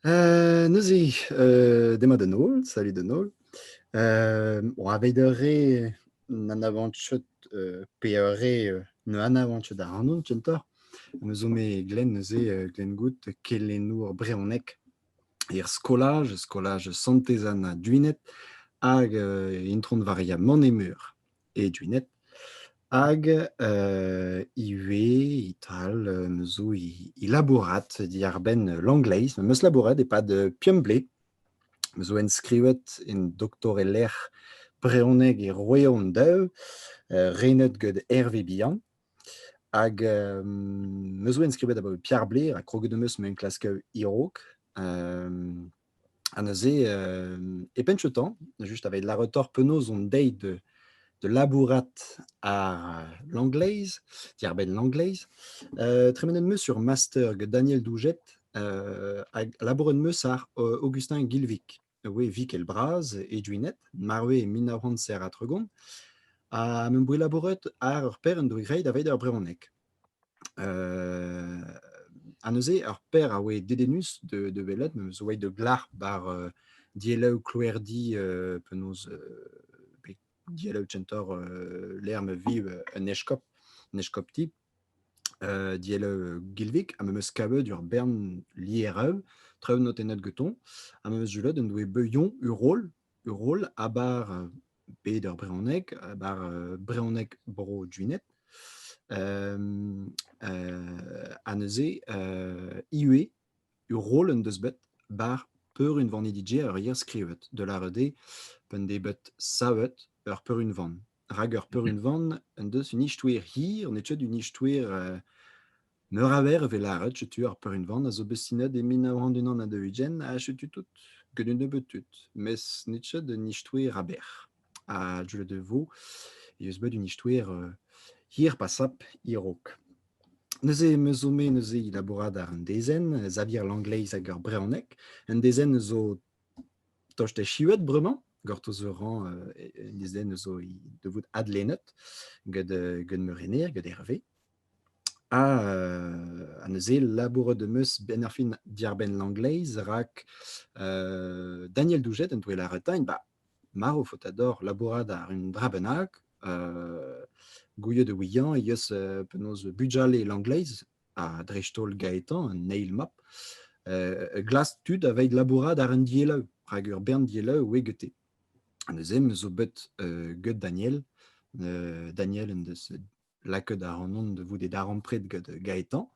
Heu, neuze, heu, demat da Noël. Salut de Noël. Hem, bon, aveidere n'an avançot, heu, peore, heu, ne an avançot ac'hano kentoc'h. Me zo me Glenn neuze, heu, Glenn Good, kelennour brehoneg er skolaj, skolaj Santez Anna Duined, hag, heu, intron war ya Manet-Meur. Edunet hag ivez e-tal me zo i i labourat diàr-benn l'angleiz. Me 'meus labouret e-pad Piomblé. Me zo enskrivet en doktorelezh brezhoneg e Royaume-Daou, renet gant Hervé Bihan. Hag me zo enskribet abaoe Piarblé, ha kroget 'm eus m'enklask hiraok. Ha neuze, euh, e penn ce temps, juste avec la retort penaos on date de, de labourat à l'anglaise, Dierben l'anglaise, euh, tremenet-me sur master que Daniel Douget euh, labouret-me ar euh, Augustin Gilvik. Oui, Vik el braz, e duinet, marwe e 1900 zer a tregont, a mem bri labouret ar ur per en doe greit a veit ur brehonek. ha neuze ur paer a oe dedennus da welet, meus a oe da glac'h bar dielloù klouerdi penaos bet dielloù kentoc'h lec'h ma vi un eskop, un eskopti, dielloù Gilvig, ha memes kavet ur bern lieraoù, traoù notennet gantoñ, ha memes julout en doe beuilhoñ ur roll. ur roll a bar bed ar brezhoneg, a bar brezhoneg bro Gwened. ha neuze ivez ur roll en deus bet bar peurunvaniñ DJ ur yer skrivet, da lâret eo p'en dez bet savet ur peurunvan. Rak ur peurunvan en deus un istouer hir, n'eo ket un istouer Meur a verr a vez lâret, setu ar peurunvan a zo bet sinet e mil nav c'hant unan ha daou-ugent ha setu tout, get un nebeud tud. Mes n'it ket d'un ishtouer aber. Ha deuet e vo e eus bet un ishtouer euh, hir pa sap a-raok. Neuze em eus zo me neuze e labourat àr un dezenn, Xavier Langleiz hag ar brezhoneg. Un dezenn zo tost echuet bremañ, gortoz ur rañ euh, un dezenn zo e devout adlennet gant, euh, gant ma rener, gant Hervé. Ha ha neuze labouret em eus benn ar fin diàr-benn l'anglaise rak euh, Daniel Doujet en doe lâret-eñ bah, marv faot ador labourat àr un dra bennak, euh, gouiet e ouiañ he eus euh, penaos bugale l'anglaise, ha dreist-holl Gaëtan, un eil-mab, euh, glas tud aveit labourat àr un dieleu, rak ur bern dieleu oe gete. Neuze em zo bet euh, get Daniel. Euh, Daniel en deus lakaet ac'hanon da vout e darempred gant Gaetan.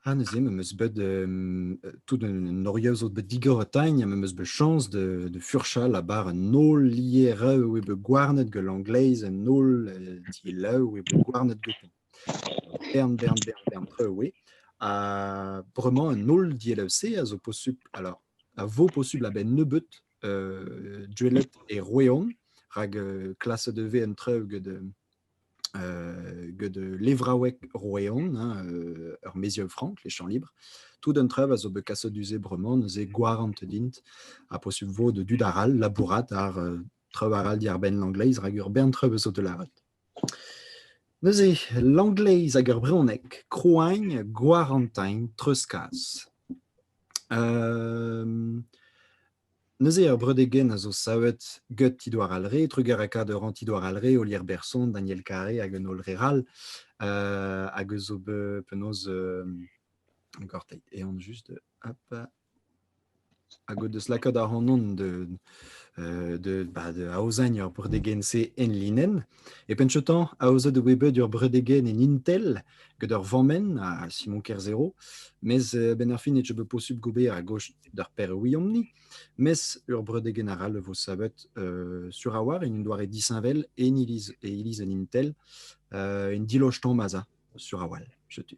Ha neuze, me meus bet euh, tout un oriazo bet digorotagne, me meus bet chans de, de furchal abar un holl lieraeu e be gouarnet gant l'angleiz, un holl euh, dielaeu e be gouarnet goutan. Bern, bern, bern, bern treu e. A bremañ un holl dielaeu se a zo posubl, alors, a vo posubl a-benn nebeut Goueled e Roeon, rak klaset e vez an traoù gant gant levraoueg Roeon, ur mezium frank, les Champs Libres. Tout an traoù a zo bet kaset du-se bremañ, neuze gwarant int, ha posubl vo da dud arall labourat ar traoù arall diàr-benn l'angleiz, rak ur bern traoù a zo da lâret. Neuze l'anglaise hag ar brezhoneg, krouagn, gwarantegn, treuzkas. neuze ar breudegenn a zo savet get he doar all re, trugarekaat a rant he doar all re, Olier Berson, Daniel Carré hag un holl re all, hag eus ober penaos gorteit, eh an just, hop. Hag o deus lakaet ac'hanon da aozañ ur bredegenn-se enlinenn. E penn-chotañ, aozet eo bet bet ur bredegenn en Intel gant ur vammenn ha Simon Kerzhero. Mes a-benn ar fin e teu bet posubl gober a-gozh d'ar pereouiomp-ni. Mes ur bredegenn arall e vo savet sur a-walc'h en un doare disheñvel en iliz en Intel. Un diloch tomm a za sur a-walc'h, setu.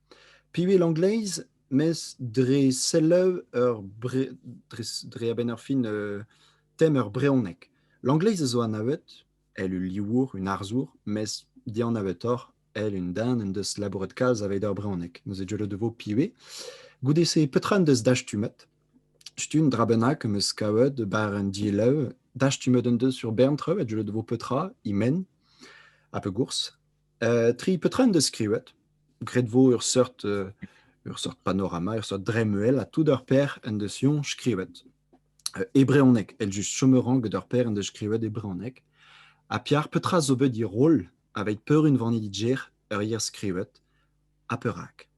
Piv eo Langleiz mes dre selaou ur bre- dre a-benn ar fin tem ur brezhoneg. Langleiz a zo anavet èl ul livour, un arzour mes dianavetoc'h èl un den en deus labouret kalz aveit ar brezhoneg. Neuze deuet e vo piv eo. Goude-se petra en deus dastumet? Stumm dra bennak am eus kavet war an dielaou. Dastumet en deus ur bern traoù ha deuet e vo petra he men. Ha pegoulz? tri peotrenn deus skrivet. Graet vo ur seurt ur seurt panorama, ur seurt dremmel, ha tout ar per en deus ioñ skrivet. E brezhoneg, eljust chomeran get ar per en deus skrivet e brezhoneg. Ha piar petra zo bet diroll aveit peurunvaniñ didjer ur yer skrivet, ha perak?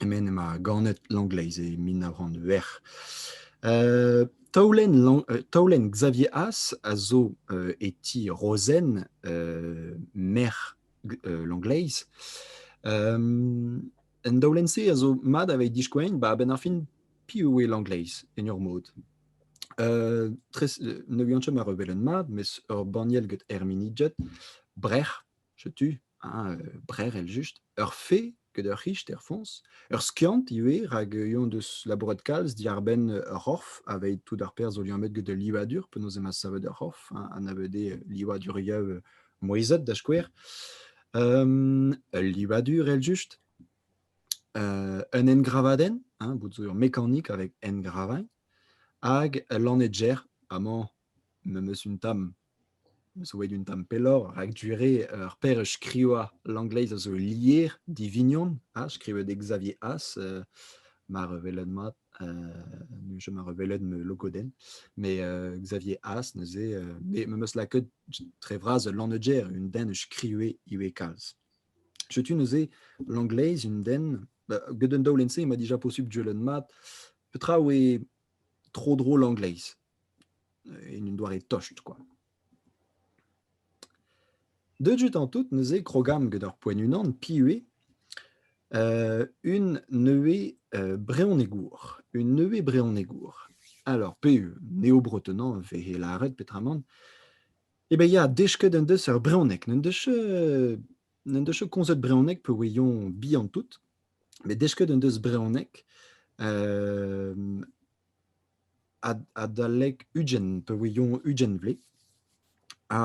Emaint ema ganet Langleiz e mil nav c'hant c'hwec'h. taolenn Lang- taolenn Xavier As a zo e ti Rozenn, merc'h Langleiz. an daolenn-se a zo mat aveit diskouezin ba a-benn ar fin piv eo Langleiz en ur mod. tres- ne vihan ket ma ur welenn mat, mes ur banniel get Hermini Judd, Brec'h. Setu hein, heu, brer eljust. Ur fee get ur c'hichter foñs, ur skiant ivez rak on deus labouret kalz diàr-benn ur c'horf aveit tout ar perzh zo liammet get ul livadur, penaos emañ savet ur c'horf hein, anavet eo livadurioù moizhet da skouer. Hem, ul livadur eljust, heu, un engravadenn hein, bout zo ur mekanik avek engravagn hag ul lannetger amañ memes un tamm. zo bet un tamm pelloc'h rak du-re ur perch skrivañ langleiz a zo lier divignon ha skrivet eo Xavier As euh, mar welet mat euh, ma rewelet ma logodenn mais euh, Xavier As neuze euh, me meus lakaet tre vras ul lannegger un den eus skrivet ivez kalz setu neuze langleiz un den bah, get un daolenn-se ma dija posubl duellet mat petra oe tro-dro langleiz en un doare tosht kwa. Deut an tout neuze krogamm get ur poent unan piv eo euh, un nevez euh, brezhonegour, un nevez brezhonegour. Alors, pe'u neo-bretonant vehe lâret petramant eh ben ya, desket en deus ur brezhoneg, n'en deus n'en deus komzet brezhoneg peogwir bihan tout, met desket en deus brezhoneg euh, adalek ugent peogwir ugent vlez. Ha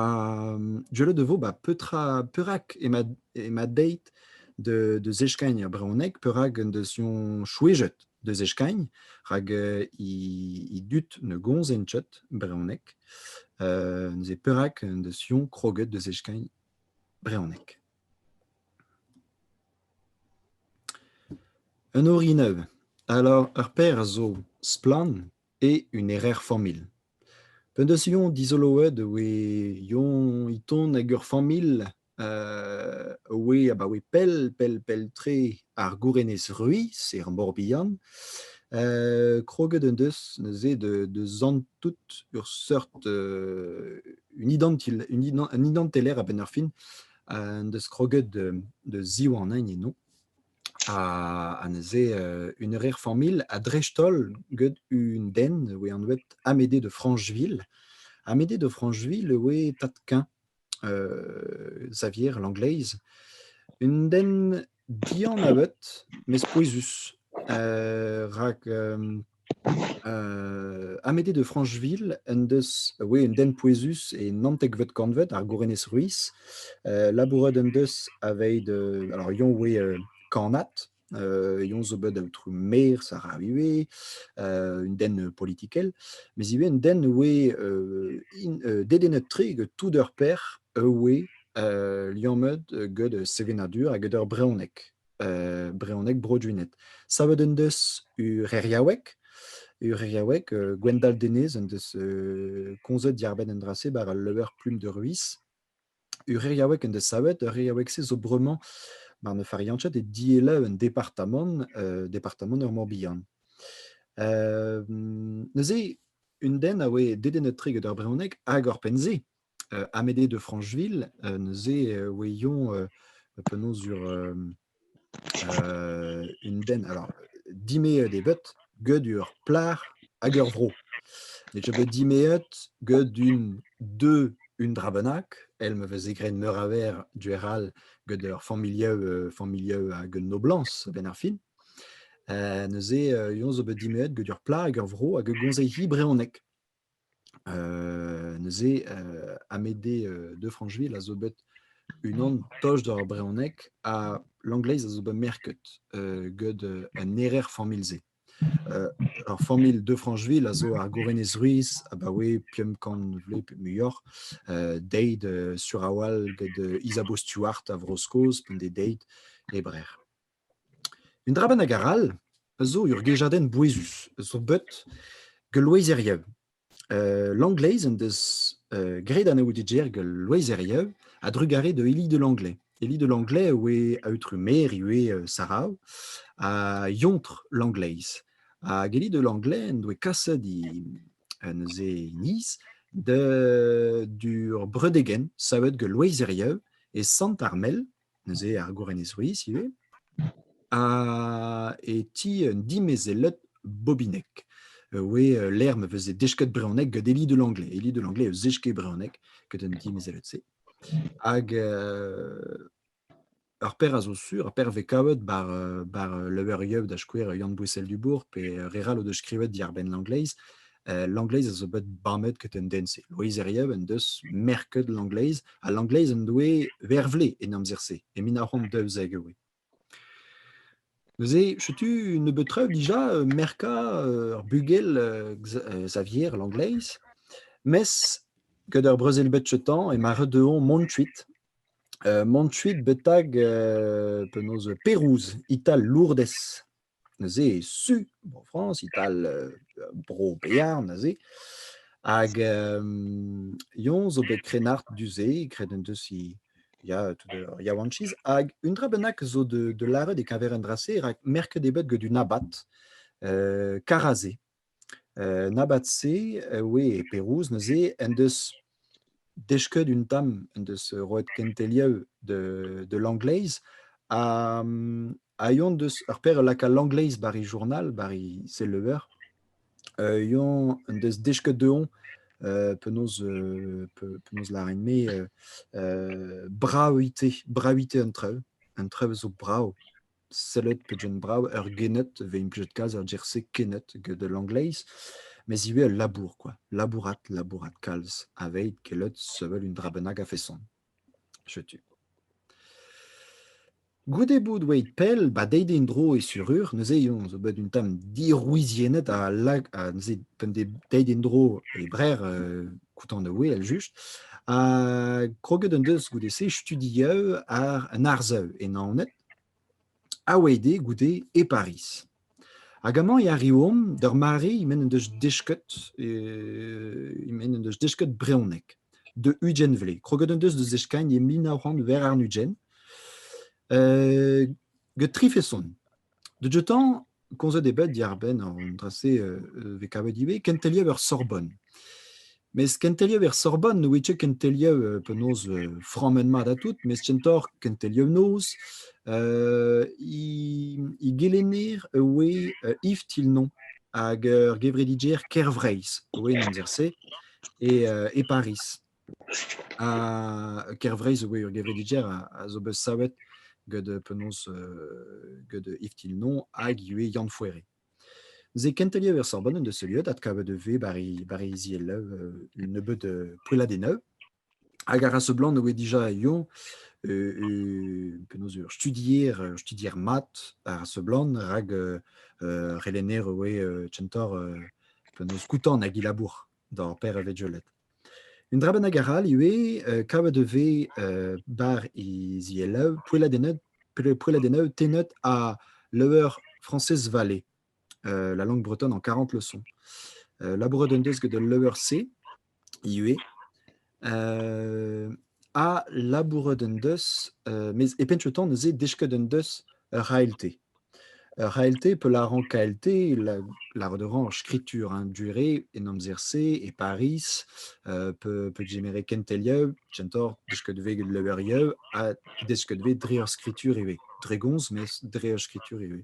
gwellet e vo ba petra perak ema ema deit da zeskagn er brezhoneg, perak en deus hon chouezhet da zeskagn, rak he dud ne gomzent ket brezhoneg. Neuze perak en deus-hon kroget da zeskagn brezhoneg? Un orin nevez, alors ur paer zo splann eo un erer-familh. P'en deus yon dizoloet e oe yon e tont hag ur familh a oe abaoe pell, pell, pell-tre ar Gourenez-Ruis er Mor-Bihan. kroget en deus neuze de, zant tout ur seurt un, idanteller a-benn ar fin en deus kroget de, ziwanain eno. Ha, neuze une rer-familh ha dreist-holl get un den e oe anvet Amédée de Francheville. Amédée de Francheville e oe tad-keñv Xavier Langleiz. Un den dianaveut mes pouezus rak Amédée de Francheville en deus oui un den pouezus e naontekvet kantved ar Gourenez Ruiz. labouret en deus aveit alors yon oe kannad Eon zo bet aotrou maer Sarah ivez, un den politikel, mes ivez un den oe dedennet-tre gant tout ur pec'h oe liammet gant sevenadur ha gant ur brezhoneg, brezhoneg Bro-Duined. Savet en deus ur c'heriaoueg, ur c'heriaoueg Gwendal Denez en deus komzet diarbenn en dra-se war al leur plume de ruis. Ur en deus savet. Ur reyaoueg-se zo bremañ mar ne fariañchet e dielaou un departamant, euh, departamant ur Mor-Bihan. Euh, neuze, un den a oe dedennet-tre gant ur brezhoneg hag oc'hpenn-se, euh, Amédée de Francheville, neuze e oe yoñ penaos ur un den alors dimeet eo bet get ur plac'h hag ur vro ne'z eo bet dimeet get un deux un dra bennak èl ma veze graet meur a verr du-houarn all get ur familhoù familhoù hag un noblañs a-benn ar fin neuze eñ zo bet dimeet get ur plac'h hag ur vro hag a gomze hi brezhoneg neuze Amédée de Francheville a zo bet unan toch d'ur brezhoneg ha l'angleiz a zo bet merket get un erer familh-se. Ur familh de Francheville a zo ar Gourenez Ruiz abaoe pemp kant vloaz muioc'h, deit sur a-walc'h get Isabeau Stuart a Vro-Skos, un deit e Brer. Un dra bennak arall a zo ur gejadenn bouezus zo bet gant loezerien. Euh, L'Anglaise en deus euh, graet anaout e gêr gant loezerien a-drugarez da Eli de Langlais. Eli de Langlais a oe aotrou maer ivez euh, Sarao ha yontr Langleiz. Hag Eli de Langlais en doe kaset he, euh, neuze he niz de, d'ur breudegenn savet gant loezerien e Sant-Armel neuze ar Gourenez Ruiz ivez, e ti un dimezelled bobinek. Oe lec'h ma veze desket brezhoneg gant Elie de Langlais. Elie de Langlais eus Zesqué brezhoneg, get an dimezelled-se. Hag ur paer a zo sur, ur paer vez kavet bar bar Le Heureux da skouer Yann Bouessel-Dubourg pe re 'rall o deus skrivet diàr-benn Langleiz L'angleiz a zo bet bamet get un den-se. Loeiz Herriev en deus merket l'angleiz, ha l'angleiz en doe vervle en amzer-se, e mil nav c'hant daouzek e oe. Neuze, setu nebeut traoù dija merkañ ur bugel Xavier l'angleiz, mes gant ur brezel bet cheutañ emañ ret dezhoñ mont kuit. mont kuit betek penaos Perouz, Ital Lourdes. Neuze su Bro-Frañs e-tal Bro-Bearn neuze hag yym Lyon zo bet krennard du-se, graet en deus he ya tout ur yaouankiz hag un dra bennak zo da lâret e-keñver un dra-se rak merket eo bet get un abad, Karazé. En abad-se, oui, e Perouz neuze, en deus desket un tamm, en deus roet kenteliañ de de l'angleiz ha ha eon deus ur paer lakaat l'angleiz bar e journal, bar e seuleuer. Eon en deus desket deomp penaos penaos lârin-me brav ite, brav ite an traoù, an traoù a zo brav. sellet pegen brav ur gened vez implijet kalz er gêr-se kened get l'angleiz mes ivez ul labour kwa labourat labourat kalz aveit gellet sevel un dra bennak a-feson setu goude bout oeit pell ba deit en-dro e surur neuze on zo bet un tamm dirouiziennet ha lag ha neuze p'en deus deit en-dro e brer euh kontant e oe eljust ha kroget en deus goude-se studiañ ar un arsav e Naoned a-wezh dezhe goude e Pariz. Hag amañ e arriomp d'ur mare m'en deus desket m'en deus desket brezhoneg de Ugent Vlez. Kroget en deus da zeskagn e mil nav c'hant ver àrn-ugent, gant tri feson. De jeu-tañ komzet eo bet diàr-benn an dra-se euh, vez kavet ivez, kenteliañ ur Sorbonne. Mes kenteliañ ur Sorbonne ne ouie ket kenteliañ euh, penaos euh, frammet mat ha tout, mes kentoc'h kenteliañ noz, euh, i, i gelenner e oe euh, Yves Tilnon hag ur gevredidjer Kervreizh, oe en amzer-se, e, euh, e Paris. Ha Kervreizh zo bet ur gevredigezh a zo bet savet gant penaos gant Yves Tilnon hag ivez Yann Fouéré. Ze kenteliañ ur sorban en deus heuliet adkavet e vez bar he zielev un nebeud poelladennoù hag a ra seblant e oe dija eo penaos ur studier ur studier mat a ra seblant rak relenner e oe tsentor penaos koutant hag he labour. D'ar per e vegelet. Un dra bennak arall ivez, euh, kavet e vez euh, bar he zielaou, poelladennoù, poe- poelladennoù tennet ha leur Frañsez Vallée, euh, la langue bretonne en 40 leçons. Euh, labouret en deus get ul leur-se ivez. ha labourat en deus, mes e penn tan neuze desket en deus ur ALT. Ur ALT peut lârañ KLT, lâret a en skritur hein, durée en amzer-se, e Paris, peut, peut gemeret kentelieu, gentor desket vez get leverieu, ha desket vez dre ur skritur ivez. Dre gomz, mes dre ur skritur ivez.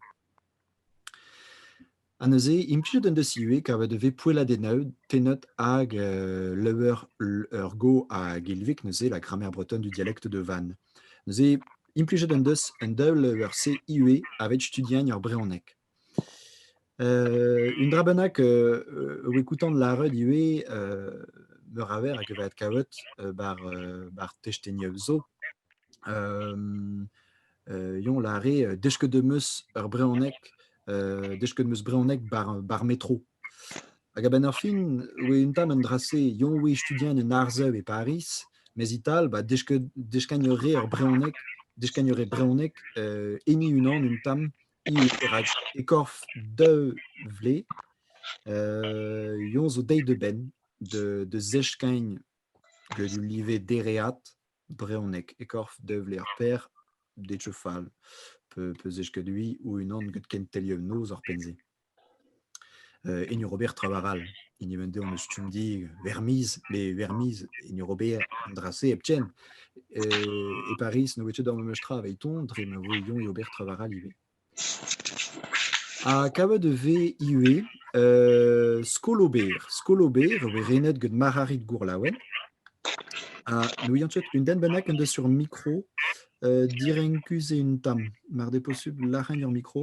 Ha neuze, implijet en deus ivez kavet e vez poelladennaod hag euh, leur, ur go hag ilvik, neuze la grammaire bretonne du dialecte de Vannes. Neuze, implijet en deus un daol ur CIE avec studiagn ur brehoneg. Euh, un dra bennak euh, o écoutant lâret ivez euh, meur a ver hag e vat kavet euh, bar, euh, bar testenioù zo. Yon lare, desket em eus ur brezhoneg, desket em eus brezhoneg bar metro. Hag a-benn ar fin oe un tamm an dra-se, yon oe studien en arzev e Pariz, mes e-tal ba deskagn a rae ar brezhoneg, deskagn a rae brezhoneg heni unan un tamm, perak e-korf daou vlez, yon zo deuet a-benn da zeskagn gant ul live dereat. Brezhoneg e korf Devler Pêr Detchefal, peus eskadui o-unan gant kenteliañ noz ar penn-se. Hini Robert Travar all, hini vent dezhañ eus Stumdi Vermiz, met Vermiz, hini Robert, an dra-se hepken. E Pariz ne voe ket ar memes tra evit-hoñ dre ma voe Yon Robert Travar all ivez. Ha kavet e vez ivez skol-ober. Skol-ober eo bet renet gant Marc'harid Gourlaouen. Ha n'ouian ket un den bennak en deus sur mikro direnkus eo un tamm. Mar d'eo posubl, lârañ ur mikro.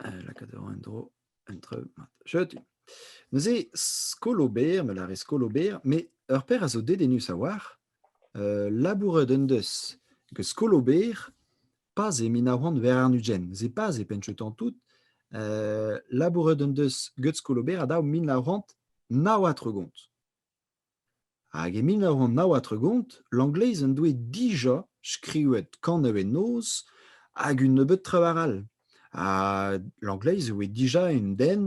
Lakaat a ra en-dro un treug mat. Jeudi. Neuze, skol ober, me lâre skol ober, mais ur paer a zo dedennus a-walc'h. Euh, labouret en deus gant skol ober pas e min a oan war an ugent. Neuze pas e penn-chetan tout. Euh, labouret en deus gant skol ober a dav min a oant nav ha tregont. Hag e mil nav c'hant nav ha tregont, Langleiz en doe dija skrivet kanañ en noz hag un nebeud traoù all. Ha Langleiz e voe dija un den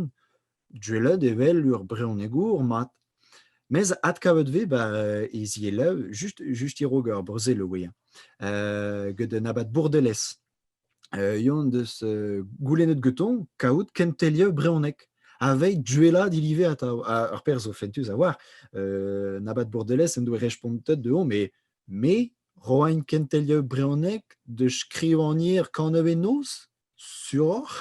duellet evel ur brezhonegour mat. Mes adkavet eo bet ba e zielaou just just e-raok ar brezel e voe. gant un abad Bourdelez. Yon deus goulennet getoñ kaout kentelier brezhoneg aveit duellañ dilive atav. Ur perzh zo fentus a-walc'h. Nabat Bourdelez en doe respontet deomp eo me roain kentelier brezhoneg da skrivagner kannañ noz suroc'h.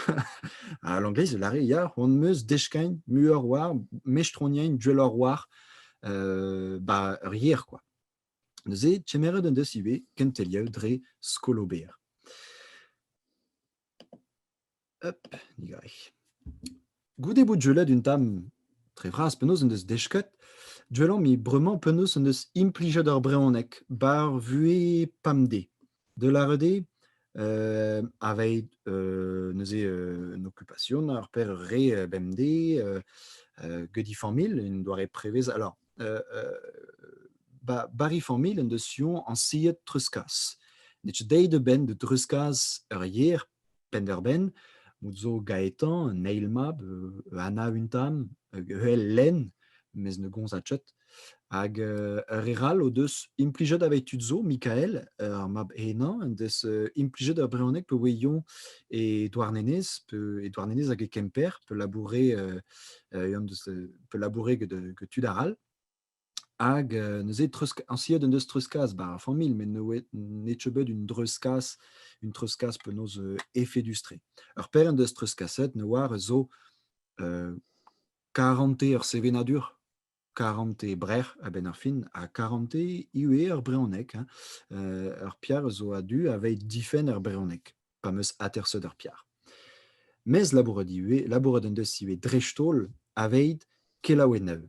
ha Langleiz a lâre ya, c'hoant 'meus deskagn muioc'h war mestroniañ duelloc'h war ur yer kwa. Neuze, kemeret en deus ivez kentelier dre skol ober. Hop, digarek. Goude bout julet un tamm dre vras penaos en deus desket, juel omp bremañ penaos en deus implijet ar brezhoneg bar vuhez pamdez. De la redé, euh, aveit euh, neuze euh, une occupation, ar per re euh, bemdez, euh, euh, geudi familh, une doare prevez. Alors, euh, euh, ba, bari familh en deus sion anciet treuskas. Nech deit de ben de treuskas ur yer penn-eur-benn, out zo Gaetan, un eil mab, euh, Anna un tamm, vel lenn, mes ne gonzachet. Hag euh, ur re all o deus implijet aveit tud zo, Mikael, euh, ar mab henañ, en deus euh, implijet ur brezhoneg pe ouezion e Douarnenez, pe e Douarnenez hag e Kemper, pe labourer, euh, euh, pe labourer get, get tud arall. Hag euh, neuze treuzka- añsiet en deus treuzkas ba ar familh met ne oe n'eo ket bet un dreuzkas un treuzkas penaos euh, efedus-tre. Ur pezh en deus treuzkaset ne oar zo euh, karante ur sevenadur, karante brec'h a-benn ar fin, ha karante ivez ur brezhoneg. hein. Euh, ur piar zo a-du aveit difenn ar brezhoneg. pa meus aterseut ar piar. Mes labourat ivez, labourat en deus ivez dreist-holl aveit kelaouenn nav.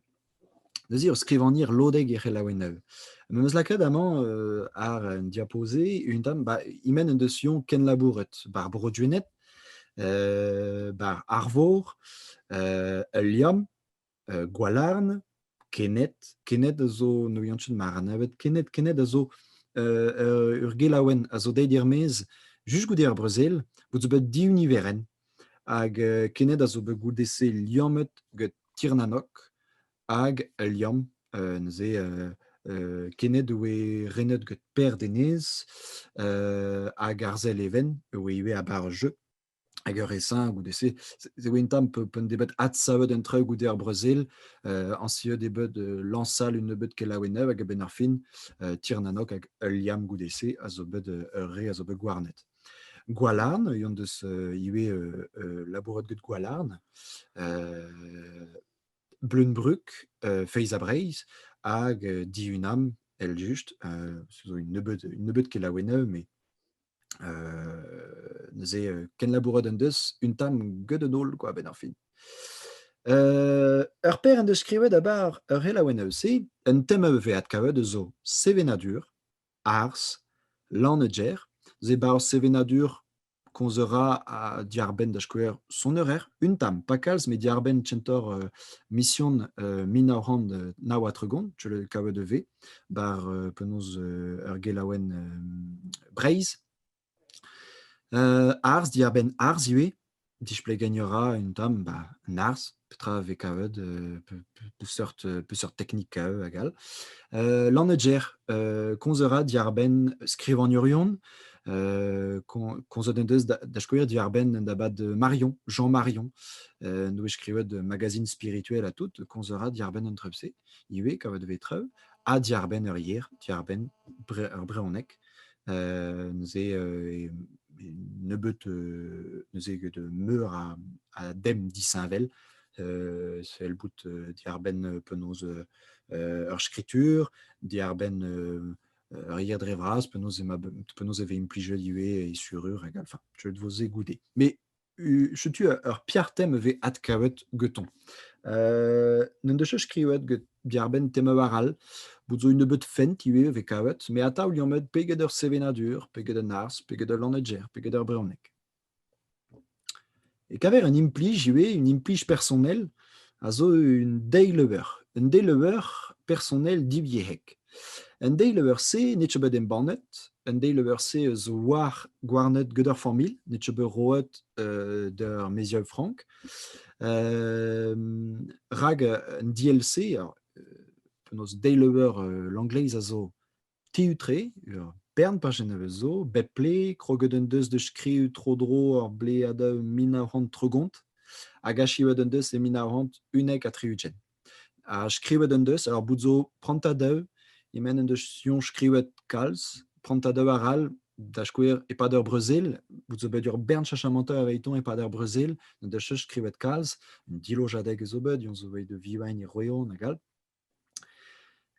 Neuze eo skrivagner lodek er c'helaouenn nav. Me meus lakaet amañ euh, ar un diaposé, un tamm, ba, imen en deus yon ken labouret bar Bro-Duennet, euh, bar Arvor, euh, ul liamm, euh, Gwalarn, Kened. Kened a zo, ne ouien ma ra navet. Kened, Kened a zo euh, euh, ur gelaouenn a zo deit er-maez just goude ar brezel, bout zo bet diuniveren. Hag euh, Kened a zo bet goude-se liammet get Tirnanok hag liamm euh, neuze euh, euh, Kened oe renet get Per Denez hag Arzel Even oe ivez a bar jeu. hag ur resin goude-se. C'est un tamm un debeut adsavet un traoù goude ar Brazil, euh, ancieux debeut euh, lansal une nebeut kelaouennev hag a fin euh, tirnanok hag ul liam goude-se a zo bet ur re a zo bet gwarnet. Gwalarn, yon deus ivez labourat get Gwalarn, Bleunbruck, Feiz a Breizh hag Diunam, el just, zo une nebeut, une nebeut kelaouennev, mais neuze kenlabourat en deus un tamm get un holl quoi, ben ar fin. Euh, ur per en deus skrivet abar ur helaouenn eus-se, un tem a vevet kavet eus zo sevenadur, arz, lanneger, ze bar sevenadur konzera a diarbenn da skouer son eurer, un tam, pas kalz, me diarbenn txentor uh, mission uh, min naw a tregont, tu le kavet de v, bar euh, penaos euh, ur gelaouenn euh, Breizh. arz, diarbenn arz ivez. Displeg gagnera un tamm bah, un arz, petra vez kavet, seurt, seurt teknik kavet hag all. Euh, Lanneger, euh, konzera diarbenn skrivagnurion, euh, konzoden deus da, da skoer diarbenn da bad Marion, Jean Marion, euh, nou e skrivet magazine spirituel a tout, konzera diarbenn un trepse. ivez kavet vez traoù, ha diarbenn ur yer, diarbenn ur brezhoneg, neuze nebeut neuze get meur a dem disheñvel, sell bout diarbenn penaos ur skritur, diarbenn ur yer dre vras, penaos e vez implijet ivez e surur hag all, enfin, deuet 'vo se goude. Setu ur piar-tem e vez adkavet getoñ. N'en deus ket skrivet get diarbenn tema war all. Bout zo un nebeud fent ivez e vez kavet. Me atav liammet pe get ur sevenadur, pe get un arz, pe get ul lannegger, pe get ur brezhoneg. E kaver un implij ivez, un implij personel. a zo un deiz-leuber. Un deiz-leuber personel divyezhek. An deiz-leuber-se n'eo ket bet embannet. An deiz-leuber-se eus war gouarnet get ar familh. N'eo ket bet roet euh, d'ur mezier frank. Euh, rak an DLC, penaos deiz-leuber euh, l'anglais a zo tiu-tre, ur bern pajenn a vez zo, bep ple, kroget en deus da skriv tro-dro ur bleadeù mil nav c'hant tregont, hag achivet en deus e mil nav c'hant unnek ha tri-ugent. Ha skrivet en deus, alors bout zo prantad daou, e-men en deus sioñ skrivet kalz, prantad daou arall, da skouer, e-pad ur brezel, bout zo bet ur bern chachamantoù aveiton e-pad ur brezel, n'en deus skrivet kalz, un dilojadeg e zo bet, yon zo bet de vivain e roeon hag all.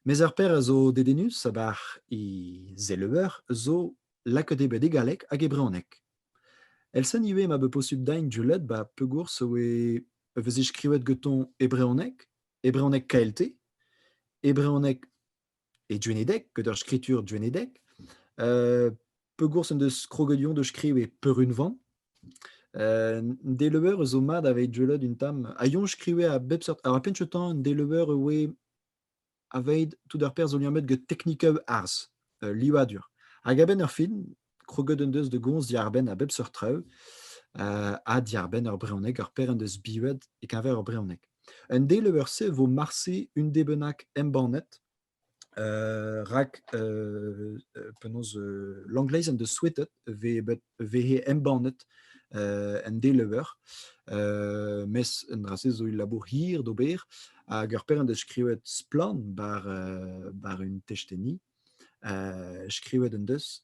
Mes ur paer a zo dedennus a-bar he zeleuer zo lakaet eo bet e galleg hag e brezhoneg. El-sen ivez ma vo posubl din deuet ba pegoulz e oe e veze skrivet gantañ e brezhoneg, e brezhoneg KLT, e brezhoneg e duenedeg, gant ur skritur duenedeg. pegours en deus kroget Lyon de skriv e peurunvan. Euh, deleuer zo mat aveit jeulet un tam. A Lyon skrive a bep sort. A penchetan deleuer oe aveit tout ar per zo liammet get teknikav arz, euh, livadur. Hag a-benn ur fin, kroget en deus de gomz diarbenn a bep sort traoù, uh, ha diarbenn ur brezhoneg, ur per en deus bivet e-keñver ur brezhoneg. Un deleuer-se vo marse un debennak embannet rak penaos Langleiz en deus souetet e he embannet en delever. mes un dra-se zo ul labour hir d'ober hag ur pêr en deus skrivet splann bar, bar un testeni. skrivet en deus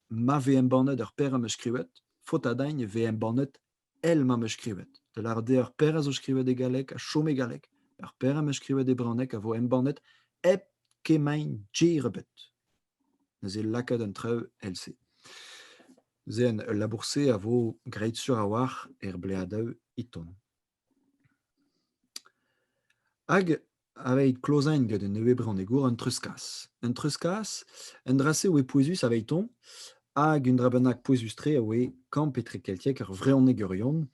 ma vez embannet ur pêr am eus skrivet, faot a dagn e vez embannet El m'am eus skrivet. Da lâret eo ar père a zo skrivet e galleg a chom e galleg. Ar père am eus skrivet e branneg a vo embannet hep kemañ gêr ebet. Neuze lakaat an traoù el-se. Zen, ul labour-se a vo graet sur a-walc'h er bleadaoù iton. Hag Aveit klozain get un nevez bronnegor un treuzkas. Un treuzkas, un dra-se a oe pouezus aveiton, hag un dra bennak pouezus-tre a oe kamp etrekeltiek ar vrehonegerion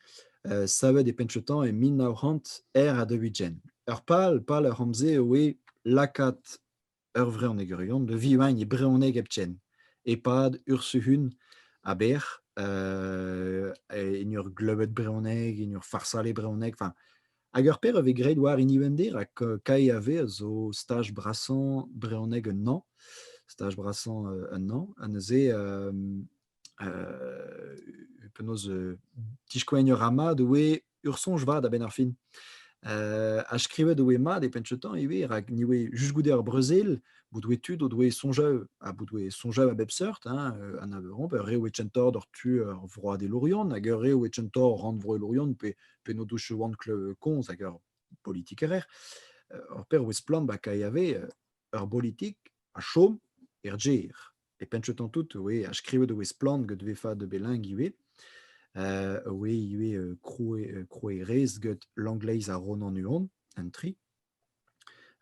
euh, savet e penn-cheutañ e mil nav c'hant er ha daou-ugent. Ur pal, pal ar c'hamp-se a oe lakaat ur vreunegourion da vivañ e brezhoneg hepken e-pad ursuhun aber en ur gleubet brezhoneg en ur farsal e brezhoneg enfin hag ur paer a vez graet war hini Vende rak KAV a zo staj brasañ brezhoneg un hañv staj brasañ un hañv ha neuze penaos diskoaign a ra mat oe ur soñj vat a-benn ar fin. ha skrivet oe mat e penchetañ ivez, rak ni oe just goude ar brezel, bout oe tud o doe soñjañ ha bout oe soñjañ a bep seurt, hein, an Aveyron, pe re oe kentoc'h d'ur tu ar vroadelourion, hag ur re oe kentoc'h rannvroelourion, pe pe n'o douche oant komz hag ur politikerer. Hor per oe splann ba kae ave ur bolitik a chom er gêr. e penchetan tout oe a skrivet oe splann get ve fad belingue ivez. Uh, oe ivez uh, krouer, krouerez get Langleiz ha Ronan Huon, an tri.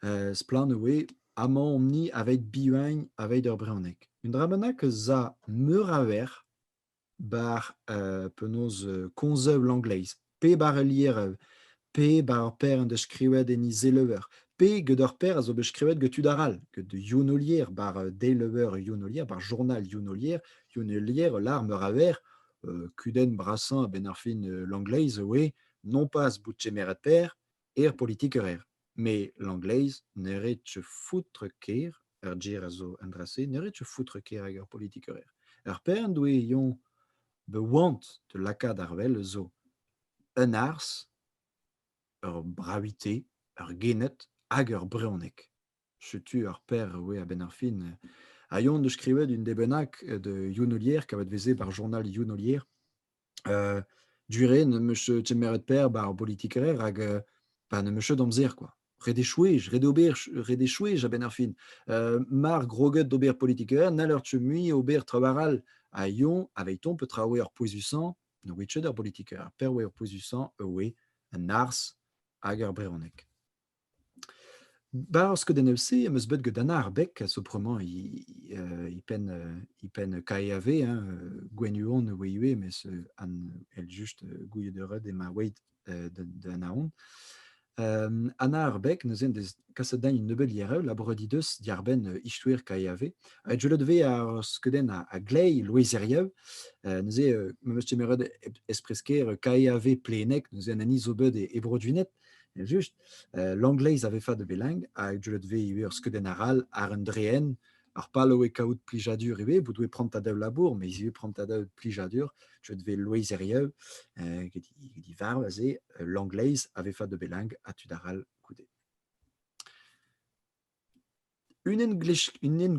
Uh, splann oe amañ omp-ni aveit bihuagn aveit ur brezhoneg. Un dra bennak za meur a ver bar penaos konzeu Langleiz, pe bar ul lierev, pe bar ur paer en deus skrivet enni zeleuer, pe get ur paer a zo bet skrivet get tud arall, get Younolier, bar deleuer Younolier, bar journal Younolier. Younolier ul lar meur a verr. kudenn brasañ a-benn ar fin Langleiz e oe non pas bout kemeret paer, er politikerer. Me l'angleiz ne ret foutre ker, ar ger a zo an dra-se, ne ret foutre ker hag ar politikerer. Ar pern doe yon be oant de lakaat arvel zo un ars, ur bravité, ur genet hag ur breonec. Setu ar per e oe a-benn ar fin. Ha Yann 'deus skrivet un den bennak de Younolier, kavet 'veze bar journal Younolier. Heu, du-re n'em eus kemeret per bar bolitiker rak heu, bah n'em eus ket amzer kwa. Ret eo chwech, ret eo ober ch ret eo chwech a-benn ar fin. Heu, mar groget d'ober politiker, n'haller ket mui ober traoù arall. Ha Yoñ, aveithoñ, petra a oe ar pouezusañ? Ne oe ket ur bolitiker. Per a oe ar pouezusañ e oe an arz hag ar brezhoneg. 'Barzh skeudennoù-se am eus bet get Anna ar Beg a zo bremañ e penn e penn KEAV hein Gwenhuon oe ivez mes an èl just gouiet eured eo ma oeit da Naon. Anna ar Beg neuze en deus kaset din un nebeud liereu labouret he deus diàr-benn istoer KEAV. Ha deuet ivez ar skeudenn a gleiz loezerieu neuze m'am eus kemeret espres-kaer KEAV Pleneg neuze an hini zo bet e Broduined. Just, euh, l'angleiz a ve fat belang, hag deulet ve ivez ur skeudenn arall ar un dreen, ar pal oe kaout plijadur ivez, bout oe prant a dav labour, mais ivez prant a dav plijadur, deuet ve loeiz erieu, euh, get i varv aze, l'angleiz a ve fat de belang, ha tud arall goude. Unan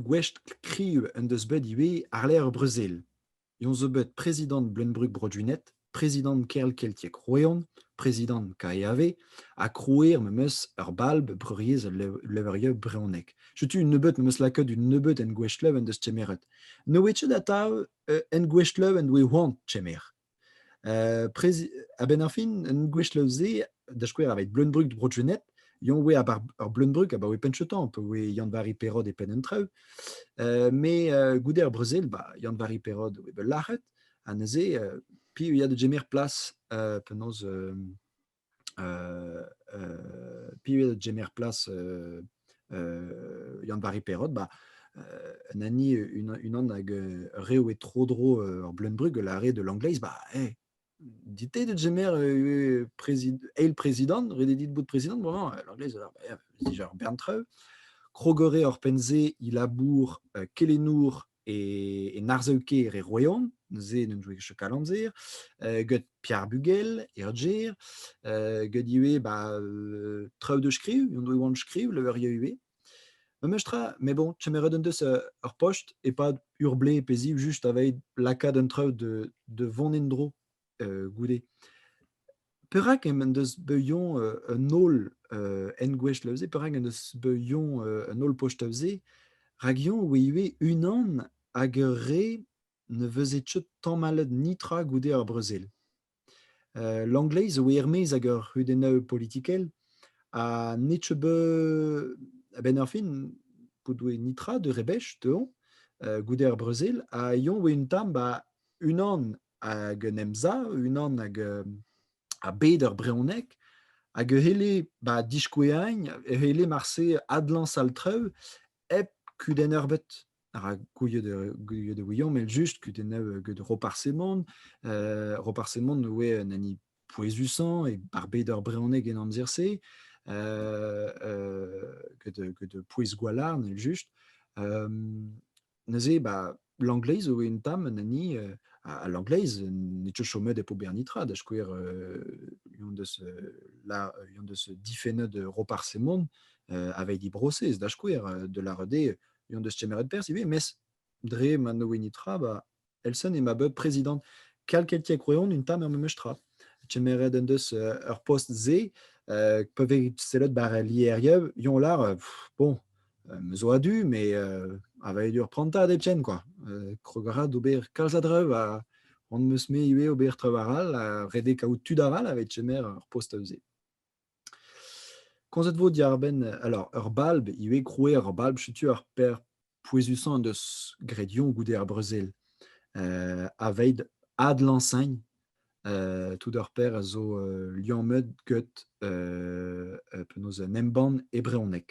gwech kriv en deus bet ivez àr-lerc'h Brezel. Eñ zo bet prezidant Bleuñv-Brug Brodunet, prezidant Kerlkeltiek Roeon, prezidant KEAV ha krouer memes ur balb Breuriezh al Levrieu brezhonek. Setu un nebeud memes lakaet un nebeud engouestlev en deus kemeret. Ne oe ket atav engouestlev en doe c'hoant kemer. a-benn ar fin, un gwech-le-se, da skouer, aveit Bleunbrug Bro-Junet, Yon oe ar Bleunbrug abaoe penchetan, pa oe Yann-Vari Perod e penn an traoù. Uh, me uh, goude ar brezel, ba, Yann-Vari Perod oe bet lac'het, ha neuze, uh, pi a ya da gemer plas uh, penaos uh, Pivet gemer plas Yann-Vari Perrot, bah, un anni unan hag rev eo tro-dro ur bleun-brug, la re de l'anglaise, bah, eh, dit de gemer eil prezidant, ret eo dit bout prezidant, bremañ, l'anglaise, dija ur bern traoù. Krogore hor penn-se, Ilabour, Kelenour, e, en arzeu-kêr e Royan, neuze n'en doa ket chok amzer, euh, get Pierre Bugel, e Odger, euh, get ivez ba, euh, traoù de skriv, en doa oan skriv, le eur ivez. Memes tra, mais bon, kemeret en deus euh, ur post, e-pad ur blez pe ziv, juste aveit lakaat un traoù de, de vont en-dro goude. Perak en deus beuillon un holl engouech da veze, perak en deus beuillon un holl poch da veze, rak eo oe ivez unan hag ur re ne veze tchod tamallet nitra goude ar brezel. Euh, L'Angleiz a oe er-maez ag ur c'hudennaü politikel, ha ne tcheu beu a-benn ar fin, p'o doe nitra de rebech dezhoñ goude ar brezel, ha eo oe un tamm 'ba unan hag un emsav unan hag a bed ur brehoneg hag e c'helle ba diskoueañ e c'helle marse adlañs al traoù hep kudenn eurbet rak gouiet e ouiomp eljust kudennoù get Roparsemon Roparsemon oe un hini pouezusañ e ar bed ur brehoneg en amzer-se get pouez Gwalarn eljust Neuze, bah, l'angleiz zo un tamm an hini, euh, à l'angleiz, n'eo ket chomet e po bernitra, da skouer, euh, un deus, euh, la, un deus difennet Roparsemon euh, avait dit brosez, da skouer, de la rede, un deus kemeret perz ivez, mes dre ma no initra, bah, Elson eo ma bep prezidant kalkeltiek reon un tamm er memes tra. Kemeret en deus euh, ur post-se, euh, peuvent sellet par l'IRIE, yon lar, euh, bon, me zo adu, mais a va dur pranta de chen, quoi. Krograd ober kalzadrev a on meus me ivez ober trevaral, a rede kaout tud aral avec Chemer ur post-se. Komzet 'vo diwar-benn alors ur balb ivez krouer ur balb setu ar per pouezusañ en deus graet Yoñ goude ar brezel euh, aveit adlañsagn euh, tout ur per a zo euh, liammet get euh, penaos un embann e brezhoneg.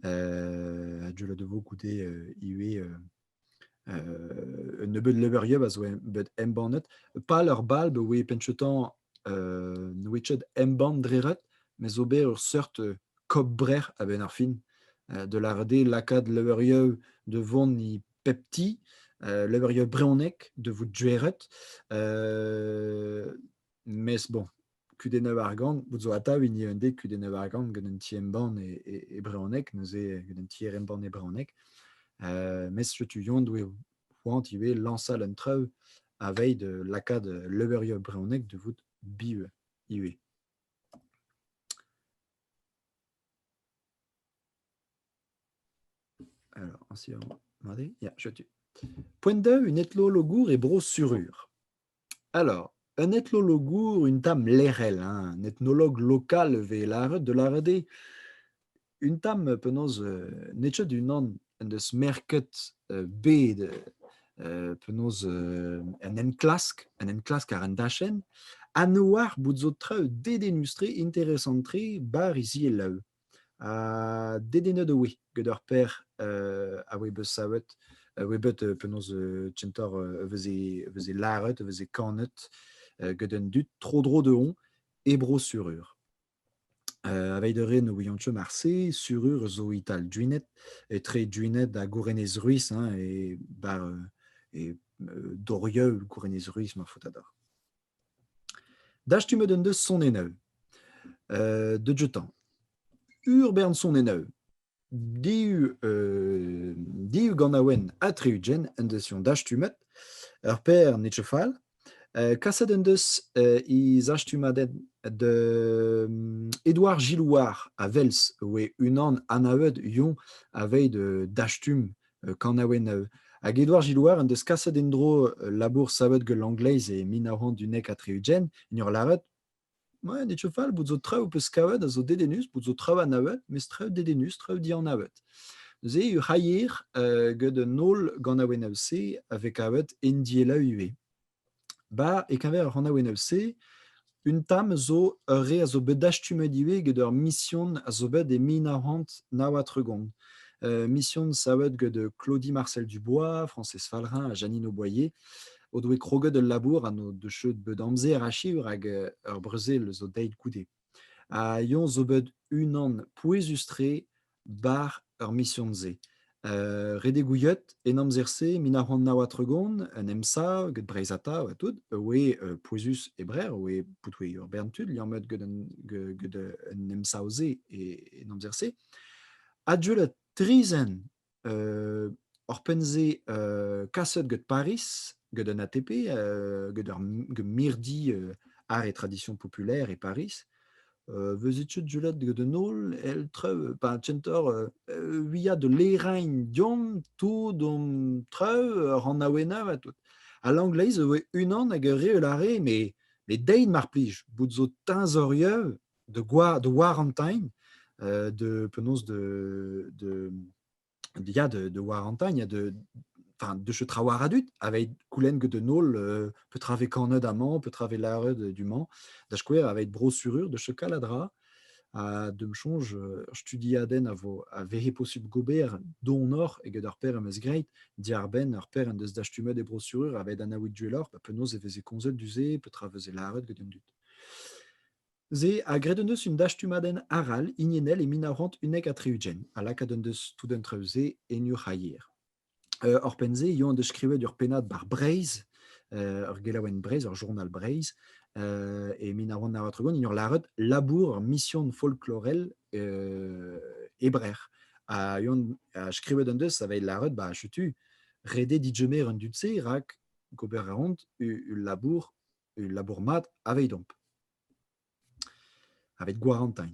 a-du 'vo goude ivez un nebeud leverioù a zo bet embannet. Pal ur bal be oe penchetan nouechet embann dreret, me zo bet ur seurt kobrer a-benn ar fin, de lavaret lakaat leverioù de vont e pep ti, leverioù brezhonek de vout dueret, mes bon, kudennoù argant, bout zo atav hini un dek kudennoù argant gant un ti-embann e, e, e brezhoneg, neuze gant un tier-embann e brezhoneg. Euh, mes tu yon doe c'hoant ivez lañsal un traoù a veil de lakaat leverioù brezhonek de vout bieu ivez. Alors, ainsi, on va regarder. Yeah, je tue. Point 2, une étlo logour et bro surur. Alors, un etnologour, une dame lec'hel, hein, un ethnologue lokal e vez lâret, da lâret eo. Un tamm penaos euh, n'eo ket unan en deus merket euh, bet euh, penaos euh, un enklask, un enklask àr an dachenn, ha ne oar bout zo traoù dedennus-tre, interesant-tre, bar hiziv e-lev. Ha dedennet e oe gant ur paer a oe bet savet, a oe bet penaos kentoc'h e veze e veze lâret, e veze kanet gant an dud tro-dro dezhoñ e Bro-Sur-Ur. Aveit a rae ne ouiont ket marse, Sur-Ur zo e-tal Duined, etre Duined ha Gourenez-Ruis hein, e bar e Dorieu, Gourenez-Ruis ma faotr a dorr. Dastumet en deus sonennoù deuet-tañ. Ur bern sonennoù div div ganaouenn ha tri-ugent en deus eñ dastumet. Ur paer nezo fall. Kaset en deus he zastumadenn Edouard Gilouard a-welz e oe unan anavet yoñ aveit dastumm kanaouenn Hag Edward Gilloire en deus kaset en-dro labour savet gant l'angleiz e mil nav c'hant unnek ha tri-ugent, en ur lâret Ouais, ne fall, bout zo traoù peus kavet a zo dedennus, bout zo traoù anavet, mes traoù dedennus, traoù dianavet. Neuze eo c'hailler gant un holl ganaouennoù-se a vez kavet en dielaou ivez. Ba, e-keñver ar c'hanaouennoù-se, un tamm zo ur re a zo bet dastumet ivez get ur mision a zo bet e mil nav c'hant nav ha tregont. mision savet get Claudie Marcel-Dubois, Frañsez Falrin ha Janine Auboyer o doe kroget ul labour ha n'o deus cheud bet amzer achiv rak ur brezel zo deuet goude. Ha Yon zo bet unan pouezus-tre 'bar ar mision-se. Euh, redek gouiet en amzer-se, mil nav c'hant nav ha tregont, en emsav get Breizh Atav ha tout, oe euh, pouezus e Breizh, oe poutouet ur bern tud liammet get an, get an emsav-se en amzer-se. Adieu la trizaine Oc'hpenn-se, kaset get Pariz, get un ATP, get ur mirdi art et tradition populaire e Pariz. Eus etud julet get un holl, el trev, pa tenter wiañ da lêrañ deomp tout hon trev, ur c'hanaouenner ha tout. Ha Langleiz a voe unan hag a reol a rae, met deit mar plij, bout zo teñzorieu de, de Warantine, de penaos de de il y a de, de Warantine, il y a de enfin de je travar adut avec coulen que de nol euh, peut traver corned à man peut traver larred du man da skouer avec brossurure de ce caladra à de me change studi aden a vo a vehe possible gober do nor e get ar per mes greit diarben ar per en deus dastumet e brossurure avec an awit duelor pa penaos e veze konzet du ze peut traveuse larred get un dut Se, ha graet en deus un dastumadenn arall hiniennel e mil nav c'hant unnek ha tri-ugent, ha lakaat en deus tout an traoù-se en Urc'haier. Uh, Oc'hpenn-se eo en deus skrivet ur pennad bar Breizh, uh, ur gelaouenn Breizh, ur journal Breizh, uh, e mil nav c'hant nav ha tregont, en ur lâret labour ur mission folklorel uh, hebrer. Ha, ha skrivet en deus, ça va être lâret, bah, chutu, rede didgemer an dud-se, rak gober a ront ul labour ul labour mat avedomp. Avec Guarantain.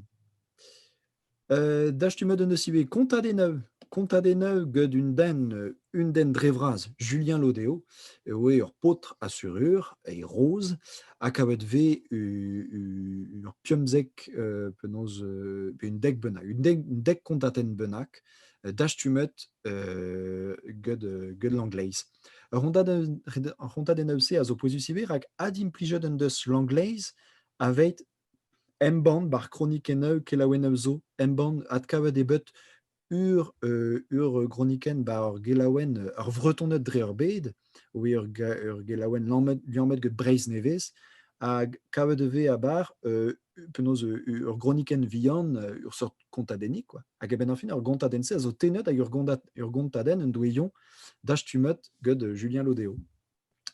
Euh, Dastumet en deus ivez Conta des Neuves. Conta des Neuves gant un den, un den dre vras, Julien Lodeo, e oe ur paotr a surur, e roz, ha kavet ve ur piomzek euh, penaos, euh, un dek bennak, un dek, dek kontaten bennak, dastumet euh, gant l'angleiz. Ar c'hontadennoù-se a zo pouezus ivez rak adimplijet en deus Langleiz aveit embann bar kronikennoù kelaouennoù zo embann adkavet eo bet ur, euh, ur gronikenn bar ur gelaouenn ur Vretoned dre ur bed, oui, ur, ur gelaouenn liammet, liammet get Breizh nevez, hag kavet e vez a bar euh, penaos ur gronikenn vihan, ur seurt kontadennig, quoi. Hag eben fin, ur gontadenn-se a zo tennet hag ur gontadenn en doe yon dastumet gant Julien Lodeo.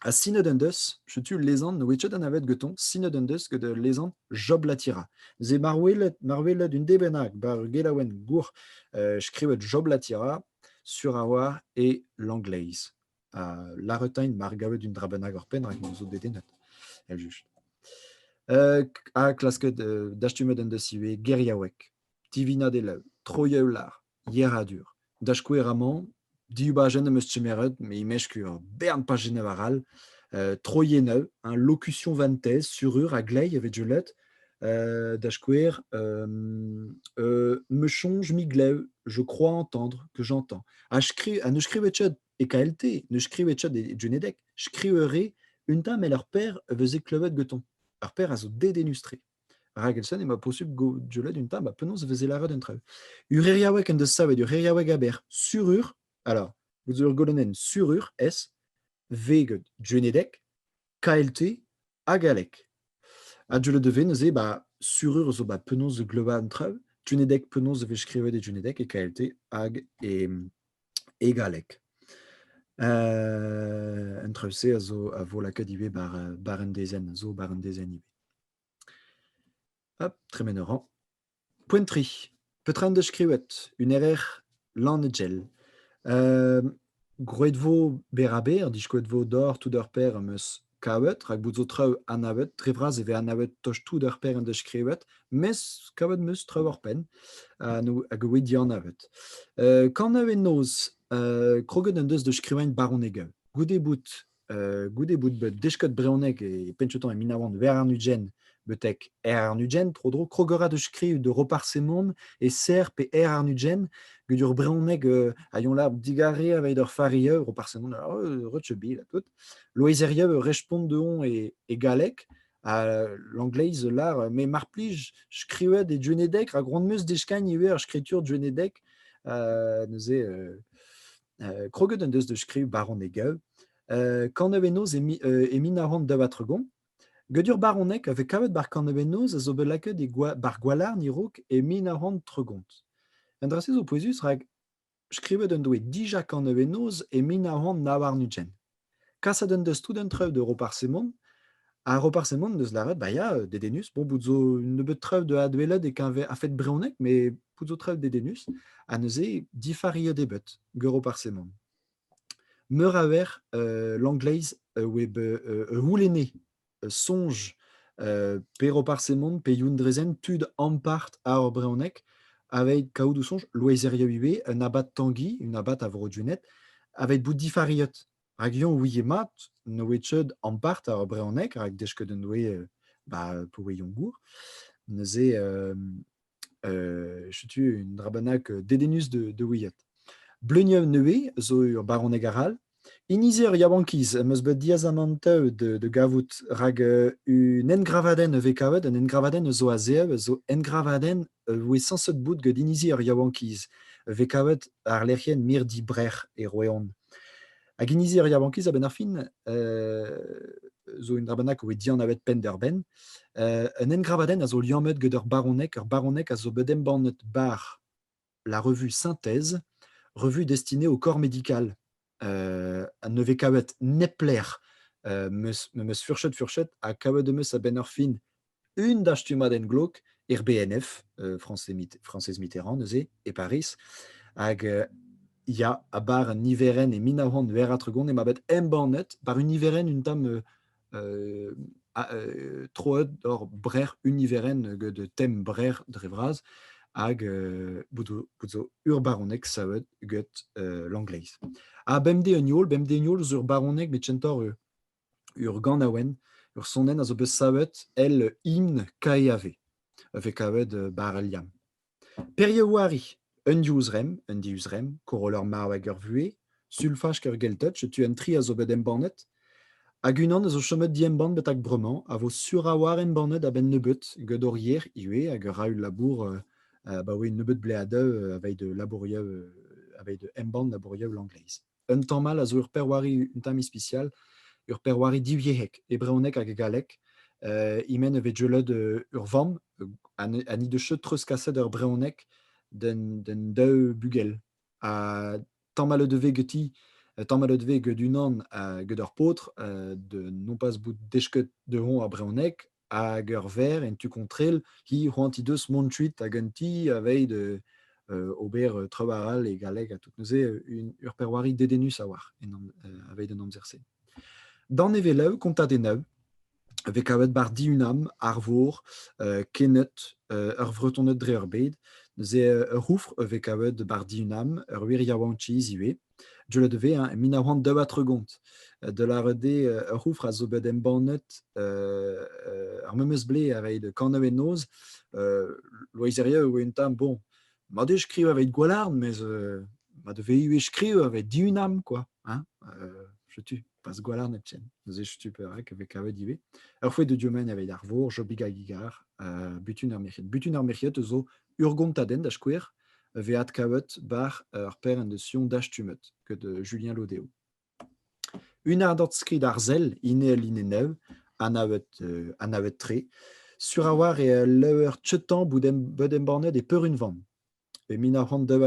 Ha sinet en deus, chetu lezan, wetchet an avet geton, sinet en deus gant lezan Job Latira. Ze marwelet, marwelet un debennak bar ur gelaouen gour euh, skrivet Job Latira sur a oar e l'angleiz. Larretain mar gavet un dra bennak hor penn, rak m'en zo dedennet, eljust. Uh, ha klasket uh, dastumet en deus ivez geriaoueg, tivinañ delaou, troieu lar, yeradur. Da skouer amañ, diubajenn am eus kemeret, me imeskur bern pas Genève aral, uh, troieneu, un locution vantez, surur a glei avec Juliette, euh, da skouer, euh, euh, me songe mi glev, je crois entendre que j'entends. A, skri, a ne skrivet e KLT, ne skrive chat e Junedeg, skriveure un tamm el ur per veze klevet gantañ. Ur per a zo dedennus-tre. Ragelson emañ posubl goujelet un tamm, ha penaos veze lâret un traoù. Ureriaoueg en deus savet Ureriaoueg aber surur, alors, vous ur golonnen surur, S, V, Junedeg, KLT ha galleg. Ha deuet e vez neuze ba, surur zo ba penaos gleuvañ an traoù, junedeg penaos e vez skrivet e junedeg e KLT hag e, e galleg. Un traoù-se a zo a vo lakaet ivez bar, bar un dezenn, zo bar un dezenn ivez. Hop, tremen a ran. Poent-tre. Petra en deus skrivet? Un erer lannegel. Ehm, gwraet vo berr-ha-berr, ha diskoet vo deoc'h tout ur paer am eus kavet, rak bout zo traoù anavet. Dre vras e vez anavet tost tout ur paer en deus skrivet, mes kavet 'm eus traoù war penn ha n'o- hag e oe dianavet. Heu, kanaouenn-noz, heu, kroget en deus da skrivañ baronnegañ. Goude bout goude bout bet desket brezhoneg e penchetoñ e Minaouan Verr-ar-Nugent betek Aer-ar-Nugent, tro-dro krogorat eus skriv de Roparz-Semon e Ser pe Aer-ar-Nugent, get ur brezhoneg a yon la digare aveit ur farieu, Roparz-Semon, Rutsheubil ha tout. Loezerieu respont dehoñ e galleg, ha l'angleiz lar me mar plij skrivet e Gwenedeg, rak ran 'm eus deskagn ivez ur skritur Gwenedeg neuze kroget en deus da skriv baronegaeu. kanevenoz e min a ran da vatregon. Gedur baronek a vez kavet bar kanevenoz a zo bet lakaet bar gwalarn irouk e min a ran tregont. Un dra-se zo pouezus rak skrivet en doe dija kanevenoz e min a ran na war nutjen. Kaset en deus tout an trev de Roparsemant. Ha Roparsemant deus lâret, bah ya, dedennus. Bon, bout zo un nebeud trev de adwelet e-keñver a-fet brezhoneg, mais bout zo trev dedennus. Ha neuze, difariet eo bet gant Roparsemant. Meur a wer euh, l'angleiz a oa bet euh, c'houlenne soñj pe Roparz Hemon pe Youn Drezen tud ampart a hor brehoneg aveit kaout o soñj loezerioù ivez un abad Tangi, un abad a Vro-Dunet, aveit bout difariet. Rak yoñ ouie mat ne oe tcheud ampart ar brehoneg, rak deskeudenn oe ba, pa oe yoñ gour. Neuze setu un drabanag dedennus da ouiat. Bleuniav nevez zo ur baroneg arall. Inizi ur yaouankiz em eus bet diazamant da gavout rak un engravadenn a vez kavet, un engravadenn a zo a-zev, a zo engravadenn a voe sañset bout gant inizi ur yaouankiz, a vez kavet àr lec'hienn Mirdi Brec'h e Roeon. Hag inizi ar yaouankiz, a-benn ar fin, zo un drabanag a voe dianavet penn-da-benn. un engravadenn a zo liammet gant ur baroneg. Ur baroneg a zo bet embannet bar la revue Synthèse, revue destinée au corps médical. Uh, ne vez kavet neplec'h, uh, meus, meus furchet furchet, ha kavet eus a-benn ar fin une dastumadenn glouk er BNF, euh, Française Mitterrand, neuze, e Paris. Hag euh, ya, a bar un niverenn e mil nav c'hant ver a tregont, e ma bet embannet bar un niverenn un tam euh, euh, euh troet or brer un niverenn de tem brer dre vras, hag euh, zo ur baronek savet get euh, l'angleiz. A bemde un yol, bemde un yol zur baronek met centor Ur ganaouenn, ur sonenn a zo bet savet el himn Caerhave, a vez kavet bara liamm. Perioù-c'hoari Un divzremm, un divzremm, Koroll ar marv hag ar vuhez, Sulfaj ur gelted, setu an tri a zo bet embannet. Hag unan a zo chomet diembann betek bremañ, a vo sur a-walc'h embannet a-benn nebeut, gant hor yer ivez, hag a ra ul labour abaoe nebeut bleadeù aveit labourioù, aveit embann labourioù Langleiz. Un tamm all a zo ur perwari un tamm ispisial, ur perwari divyec'hek, e brezhoneg hag e galleg. Uh, e-men e vez deuet ur vamm ha ni deus cheut treuzkaset ur brezhoneg d'un daou bugel. Ha tamal o devez geti, tamal o devez get unan gant ur paotr, non pas bout desket dezhoñ ar brezhoneg, hag ur verr en tu kontrel, hi c'hoant he deus mont kuit hag un ti aveit euh, ober euh, treubar all e galleg ha tout neuze une urperwari dedennus a-walc'h aveit an amzer-se. Danevelav kontat enav, ve kavet bar diunam arvor euh, kenet euh, ur vretoned dre ur bed neuze ur c'houfr ve kavet bar diunam ur wir yaouankiz ivez Deuet e vez e mil nav c'hant daou ha tregont da lâret eo ur c'houfr a zo bet embannet ar memes ble a reiñ de kanañ en noz. Loeizeria e oa un tamm bon. Ma deu skrivañ evit Gwalarn, mes ma devez ivez skrivañ evit Diunam, quoi. Hein? Setu. pas gwalarn hepken. Neuze stuper rek e vez kavet ivez. Ur fouet de Diomen evit ar vour, Jobig a gigar, uh, butun ar merc'hiet. Butun ar merc'hiet eus zo urgontaden da skouer, ve adkavet bar ur per en de sion dastumet, que de Julien Lodeo. Une ardot skrid arzel, inel inenev, anavet, euh, anavet tre, sur avoir e lever tchetan boudem, boudem bornet e peur une van. e mil nav c'hant deu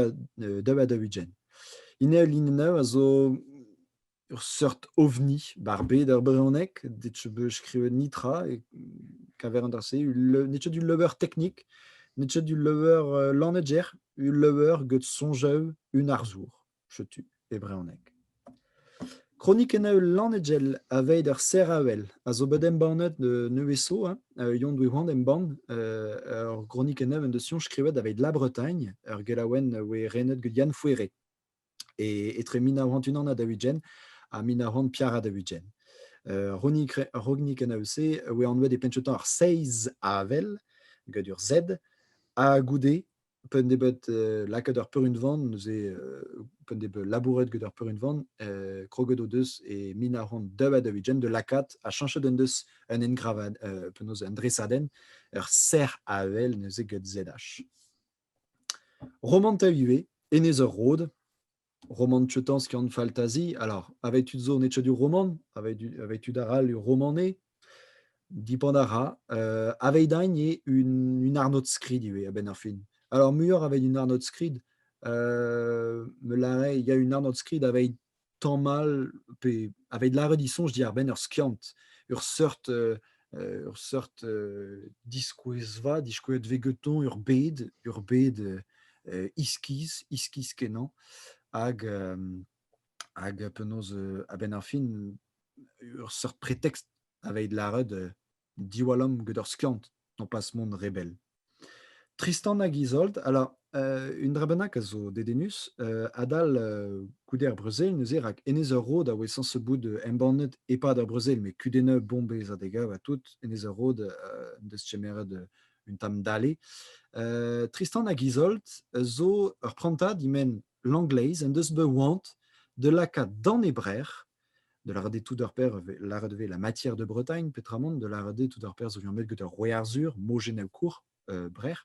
ha daou-ugent. Ine Lineneu a zo ur seurt ovni bar bed ar brezhoneg, det be skrivet nitra, e kaver an dra-se, net du lever teknik, net du lever euh, lanneger, ul lever get soñjev un arzour. Setu e brezhoneg. Kronikenn-eu Lannegel aveit ur seraouell a zo bet embannet nevez zo. Hein. Euh, Yon Dwi-Hwan embann euh, ur gronikenn-eu en deus soñj skrivet aveit La Bretagne, ur gelaouenn voe renet gant Yann Fouéré e, etre 1901 ha daouigen ha 1900 Piara ha daouigen. Euh, Ronikenn-eu-se voe anvet e penn ar seiz avel, gant ur Z, ha goude pa en debeut euh, lakaat ur peurunvan, neuze, euh, pa en debeut labouret get ur peurunvan, euh, kroget o deus e min a ront dub a deuvijen de lakaat a chanchet en deus un engravad, euh, penaos un dresadenn, ur serr a vel neuze get ZH. Roman tav ivez, Enez ur Rod, roman tcheutansk en faltazi. Alors, avec tud zo netchadur roman, avec, avec tud aral romanais, dipand a ra. Euh, Aveidain est une, une arnotskrid ivez a ben ar fin. Alors, muioc'h avec une arnotskrid, euh, il y a une arnotskrid avec tamm mal, pe avec lâret ils sont, je dis ar ben ur skiant, ur seurt euh, ur seurt diskouezva, diskouezet vegetoñ ur bed, ur bed iskiz, iskiz-kenañ, hag, hag penaos, a-benn ar fin, ur seurt pretekst aveit lâret diwallamm get ur skiant, nopas mont rebell. Tristan hag Izold, ala, euh, un dra bennak a zo dedennus. Euh, adal euh, goude ar brezel, neuze, rak Enez ur Rod a oe sañs bout euh, embannet e-pad ar brezel, met kudennoù bombez ha degav ha tout, Enez ur Rod euh, en deus kemeret euh, un tamm dale. Euh, Tristan hag Izold zo ur prantad, he men l'angleiz, en deus bet oant de lakaat d'an e brec'h Da lâret eo tout ar perzh eo lâret e vez La Matière de Bretagne peotramant da lâret eo tout ar perzh zo liammet gant ar Roue Arzhur, mojennoù kour Brec'h,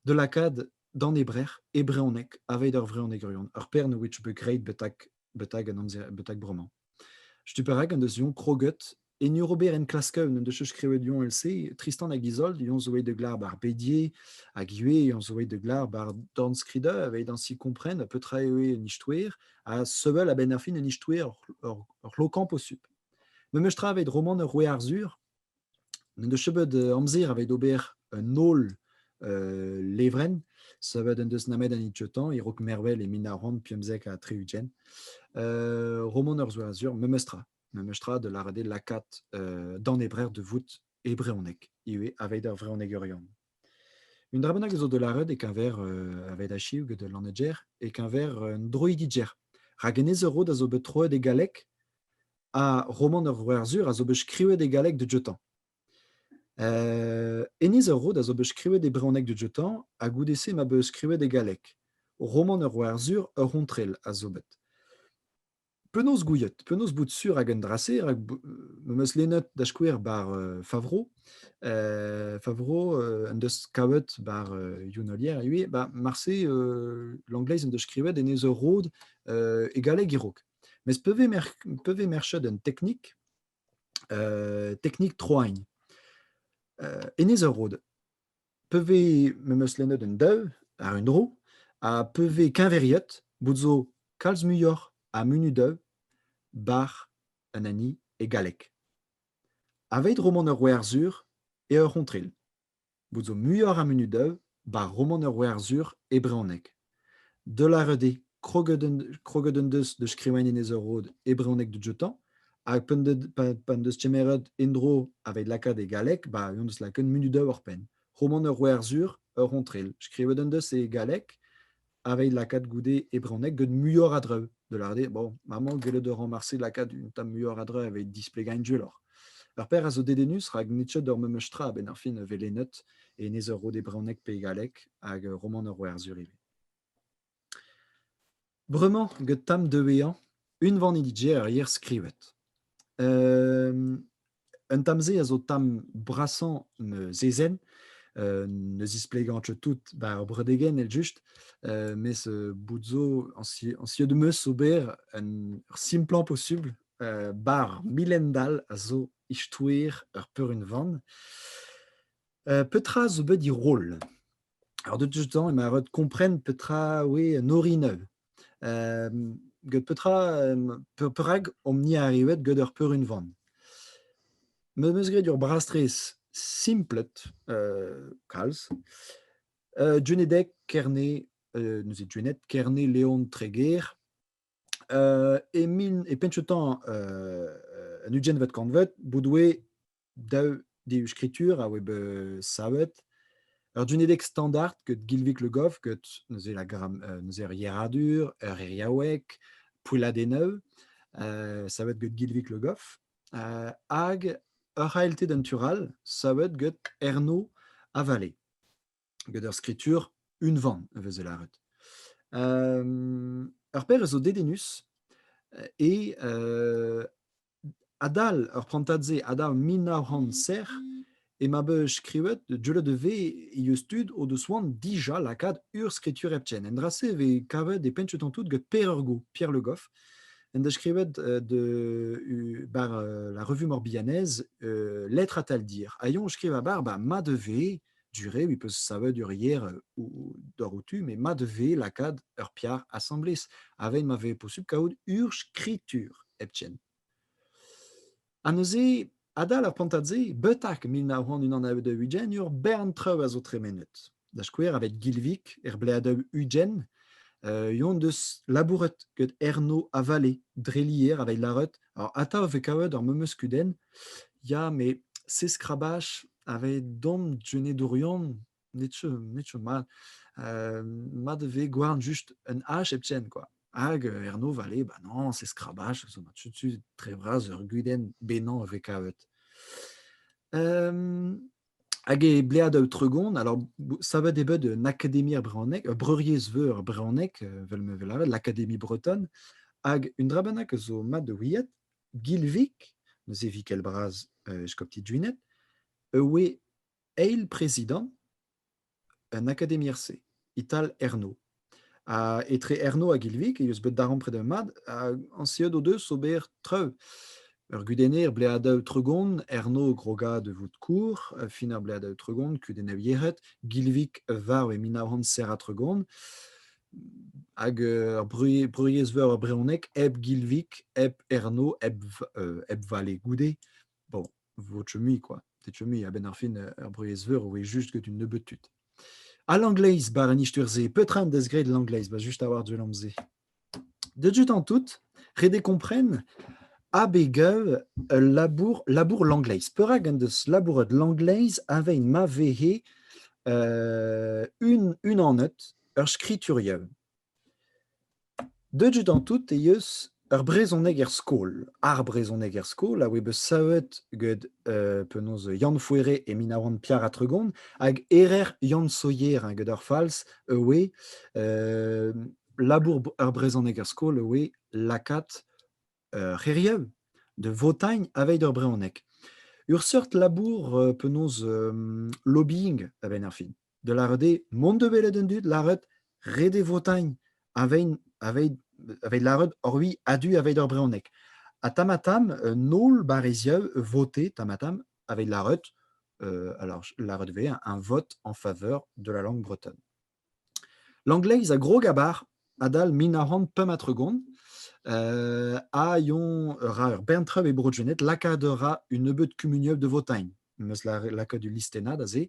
da lakaat d'an e Brec'h e brezhoneg aveit ar vrezhonegerion, ar paeron which be great betak, betak, an amzer, betak bremañ. Stumm perak en deus Young kroget En ur ober enklasker n'en deus skrivet yon el-se, Tristan hag Izold yon zo de glar bar Bedier hag ivez yon zo de glar bar Dornskrider evit ainsi comprendre petra eo un istouer ha sevel a-benn ar fin un istouer ur lokan posupl. Memes tra evit roman ur Roue Arzur, n'en deus chebeut euh, amzer aveit ober un ol euh, levren, savet en deus namet an itxotan, irok mervel e min a rand piemzek a tri ugent, euh, roman ur zo Arzur, memes tra. memestra da lavaret eo lakaat danebrer de vout e brehoneg, ivez aveit ar vrehonegerion. Un dra bennak zo da lavaret e-keñver uh, aveit achiv gant al lanneger, e-keñver un droidiger. Rak enez ur rod a zo bet troet e galleg, ha roman ur Werzur a zo bet skrivet e galleg de Djotan. Uh, enez ur rod a zo bet skrivet e brehoneg de Djotan, ha goude-se ma bet skrivet e galleg. Roman ur Werzur ur c'hontrel a zo bet. Penaos gouiet? Penaos bout sur hag an dra-se? Rak b- m eus lennet da skouer bar euh, Favro. Euh, Favro euh, en deus kavet bar euh, Younolier ivez. Ba, marse euh, l'angleiz en deus skrivet en ez ur rod euh, e galleg e-raok. Mes pe vez mer- pe vez merchet un teknik, euh, teknik troagn. Euh, en ez ur rod. pe vez me meus lennet un daou àr un dro, ha pe vez keñveriet bout zo kalz muioc'h a munudaoù bar an hini e galleg. Aveit romant ur Werzhur eo ur c'hontril bout zo muioc'h a munudaoù bar romant ur Werzhur e brezhoneg. Deullarut eo kroget en deus da skrivañ Enez-ar-Rod e brezhoneg da joutañ hag p'en deus kemeret en-dro aveit lakaat e galleg ba en deus lakaet munud-daou war penn. Romant ur werzhur, ur c'hontrel. Skrivet en deus e galleg aveit lakaat goude e brezhoneg gant muioc'h a draoù. de l'ardi, bon, maman, gellet a ran marse lakaat un tamm muioc'h a dra evit displegañ gwelloc'h. Ur per a zo dedennus, rak nitchet ur memes tra a-benn ar fin a velenet, e nez ur rod e bronneg pe e galleg, hag ur romant ur Werzhur ivez. Bremañ, get tamm deueañ, unvan he dije ar yer skrivet. Un tamm-se a zo tamm brasañ ma zezenn. Euh, ne zisplegañcho tout war bredegenn eljust, euh, mes euh, bout zo añs añs eo demeus ober un ur simplañ posubl, euh, bar milendall a zo istouer ur peurunvan. Heu, petra zo bet he roll? Alors de tout temps emañ ret kompren petra oe un orin eu. Get petra, perak omp-ni arrivet get ur peurunvan? Me 'm eus graet ur brastres simplet, kalz. Djenedeg Kerne, neuze Djened Kerne Leon Treger. E min e penn-teu-tañ un ugentvet kantved bout 'oe daou skritur a oe bet savet. Ur dunedeg standard ket Gilvik Le Goff ket neuze la gram, euh, neuze ur yeradur, ur iriaoueg, pouelladennoù, euh, savet get Gilvik Le Goff, euh, hag ur c'haelted entural savet get Erno Avalet. get ar skritur unvan e veze lâret. ur pezh a zo dedennus e adal ur prantad-se, adal mil nav c'hant sec'h, e ma be skrivet, deuet e vez e eus tud o deus oan dija lakaat ur skritur hepken. En dra-se e vez kavet e pencheton tout get Pêr Urgo, Pierre Le Goff, en deus skrivet de, bar la revue morbihannaise Lettre à tal dire. A yon skriva bar, ba, ma de vez durée, il peut savet ur hier ou d'or outu, mais mat vez lakaat ur piar assemblés. Avec ma vez possible kaout ur skritur heptien. An neuze, adal ar pantadze, betak mil nav c'hant unan a deu ugent ur bern treu a zo tremenet. Da skouer, avec Gilvik, er ble a deu ugent, euh, yon deus labouret get Erno a Vallée, drelier avec larut. Alors, atav ve kavet ar memeus kudenn, ya, mais c'est skrabash Aveit dom genedourion, netu, netu mat. Euh, mat e vez gouarn just un hache hepken, quoi. Hag euh, Erno Vallée, bah non, c'est skrabach, zo ma tu tre vras ur gudenn benañ e vez kavet. Um, hag e blead au tregon, alors savet e bed un académie er brehoneg, ur breuriez veur brehoneg, vel me vel avet, l'Académie bretonne, hag un drabennak zo mat de ouiet, Gilvik, neuze Vikel Bras, eskopti Duined, e oe eil prezidant un akademier-se, Ital Erno. Ha etre Erno hag Ilvik e eus bet darempred ur mad, hag anseet o deus ober treu. Ur gudenner bleadav tregont, Erno grogad vout kour, fin ar bleadav tregont, kudenn avieret, Gilvik varv e mil nav c'hant tregont. hag ur bruiezveur a brezhoneg hep Gilvik, hep Erno, hep, hep Vallée goude. Bon, votre mui, quoi. Tetu mui, a-benn ar fin, ur bruiezveur oe just get un nebeud tud. A l'angleiz, bar an isturzhe, petra en des graet l'angleiz, ba just a-war du lam-se. De dut en tout, rede kompren, abegav ul labour, labour l'angleiz. Perak en deus labouret l'angleiz avein ma vehe euh, un, un anneut, Ur skriturien. Deuet eo tout e eus ur brezhoneg er skol. Ar brezhoneg er skol a oe bet savet get euh, penaos Yann Fouéré e mil nav c'hant piar ha tregont hag Erer Yann Sohier hein, get ar fals e oe euh, labour ur brezhoneg er skol e oe lakaat Ur c'hêriañ de Votagnes aveit ur brezhoneg. Ur seurt labour euh, penaos euh, lobbying aveit ar fin. Da lâret eo mont da welet an dud, lâret ret eo Votagnes aveit aveit aveit lâret orui a-du aveit ur brezhoneg. Ha tamm-ha-tamm, un holl barreziañ voté tamm-ha-tamm aveit lâret, euh, alors lâret ivez, un vote en faveur de la langue bretonne. Langleiz a grog abar adal mil nav c'hant pemp ha tregont ha on a ra ur bern traoù e Bro-Gened. Lakaat a ra un nebeud kumuniañ de Votagn. Meus lakaet ul listennad aze.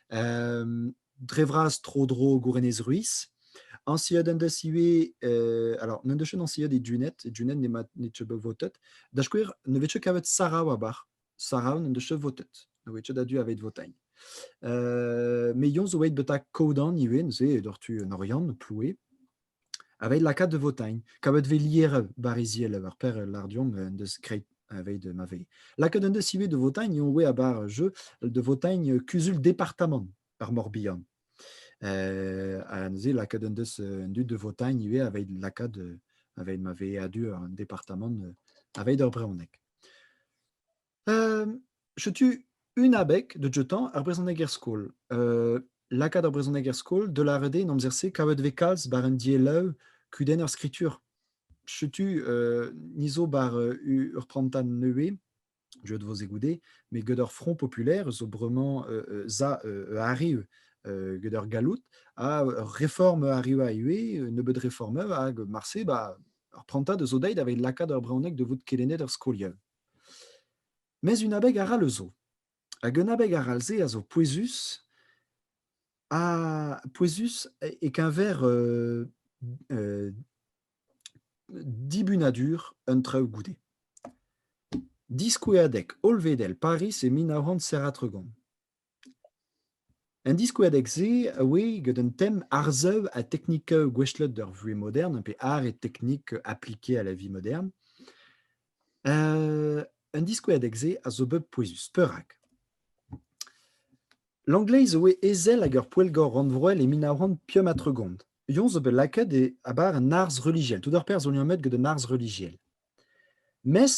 dre vras tro-dro Gourenez-Ruiz. Añsiad en deus ivez alors n'en deus ket añsiad e Duned. E Duned n'emañ nemet votet. Da skouer ne vez ket kavet Sarav abar. Sarah n'en deus cheu votet. Ne oe a-du aveit votail. Euh, me yon zo eit beta kodan ivez, neuze d'or tu en Oriant, ploue, aveit lakaat de votail. Kavet ve lier bariziel ar per lardiom en deus greit aveit ma ve. Lakaat en deus ive de votail, yon oe abar jeu de votail kuzul departamant ar Morbihan. Euh, ha neuze lakaat en deus en du de votail ivez aveit lakaat aveit ma ve adu an departamant aveit ar brehoneg. setu un abeg da joutañ ar brezhoneg er skol. lakaat ar brezhoneg er skol, da lâret eo en amzer-se kavet vez kalz war un dielloù kudenn ar skritur. Setu ni zo war ur prantad nevez, deuet vo se goude, met get ur front populaire zo bremañ za arriv get ur galloud ha ur reform arriva ivez, nebeut reformeù hag marse Ar prantad a zo dezhi daveit lakaat ar brezhoneg da vout kelennet er skoliad. Mes un abeg arall eus zo. Hag un abeg arall-se a zo pouezus, ha pouezus e-keñver euh, euh, dibunadur un traoù goude. Diskoueadeg hollvedel Pariz e mil nav c'hant zer ha tregont. An diskouadeg-se a oe gant un tem arsav ha teknika gouestlet d'ur vuhez modern pe ar e teknik aplike à la vie moderne. Euh, an diskouadeg-se a zo bet pouezus, perak? L'anglais zo bet ezel hag ur poellgor rannvroel e mil nav c'hant pemp ha tregont. Yoñ zo bet lakaet e abar an arz relijiel. Tout ar perzh zo liammet gant an arz relijiel. Mes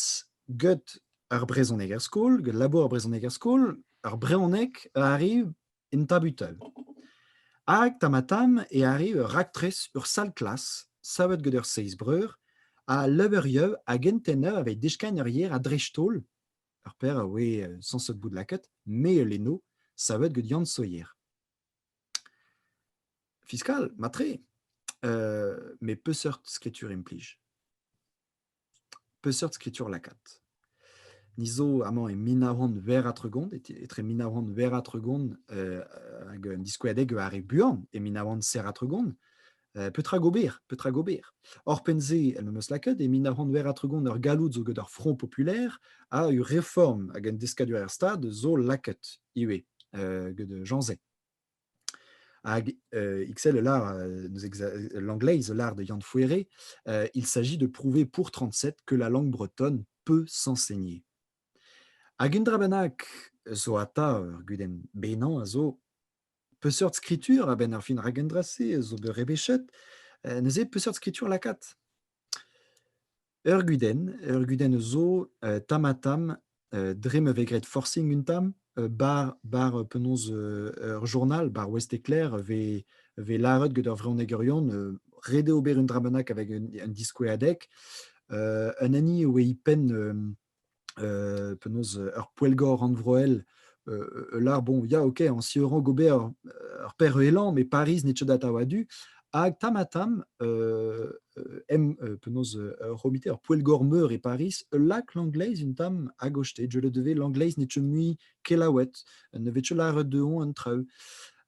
get ar brezhoneg er skol, get labour ar brezhoneg er skol, ar brezhoneg a arriv en tabutal. Hag tamm-ha-tamm e arriv ur raktres, ur sal-klas savet get ur seizh breur a leurieu hag enteneu aveit deskagn ur yer a-dreist-holl. Ur paer a oe sañset bout lakaet, me e leno, savet get Yann Sohier. Fiskal, mat-tre. met peseurt skritur implij? Peseurt skritur lakaat? Ni zo amañ e mil nav c'hant ver-ha-tregont, etre mil nav c'hant ver-ha-tregont hag un diskouezadeg ar re buan, e mil nav c'hant ser-ha-tregont. petra gober, petra gober. Orpen-se, el memes lakaet, e min a roant ver atregont ur galloud zo gant ur front populaire a ur reform hag un deskadur er stad zo lakaet ivez euh, gant Jean Zay. Hag euh, XL, l'anglais, l'art de Yann Fouéré, euh, il s'agit de prouver pour 37 que la langue bretonne peut s'enseigner. Hag un drabenac zo ata ur gudenn benan a zo Peseurt skritur, a-benn ar fin rak en dra-se, zo bet rebechet, euh, neuze peseurt skritur lakaat Ur gudenn, ur gudenn zo euh, tam-ha-tam, euh, dre ma vez graet forcing un tam, euh, bar, bar euh, penaos euh, ur journal, bar Ouest Éclair, vez, vez lâret get ur vreunegeurion euh, ret eo ober un dra bennak avec un, un diskouez adek. Euh, un hini e oe i penn euh, penaos ur poellgor rannvroel ul lar, bon, ya, ok, en si rank ober ur perhelan, mais Paris n'e data wadu. Hag tam-ha-tam, euh, euh, em euh, penaos romite ur poellgor meur e Paris, ul lak l'angleiz un tam a goste, je le devais l'angleiz ne teu mui kelaouet, ne vet laret de on an traoù.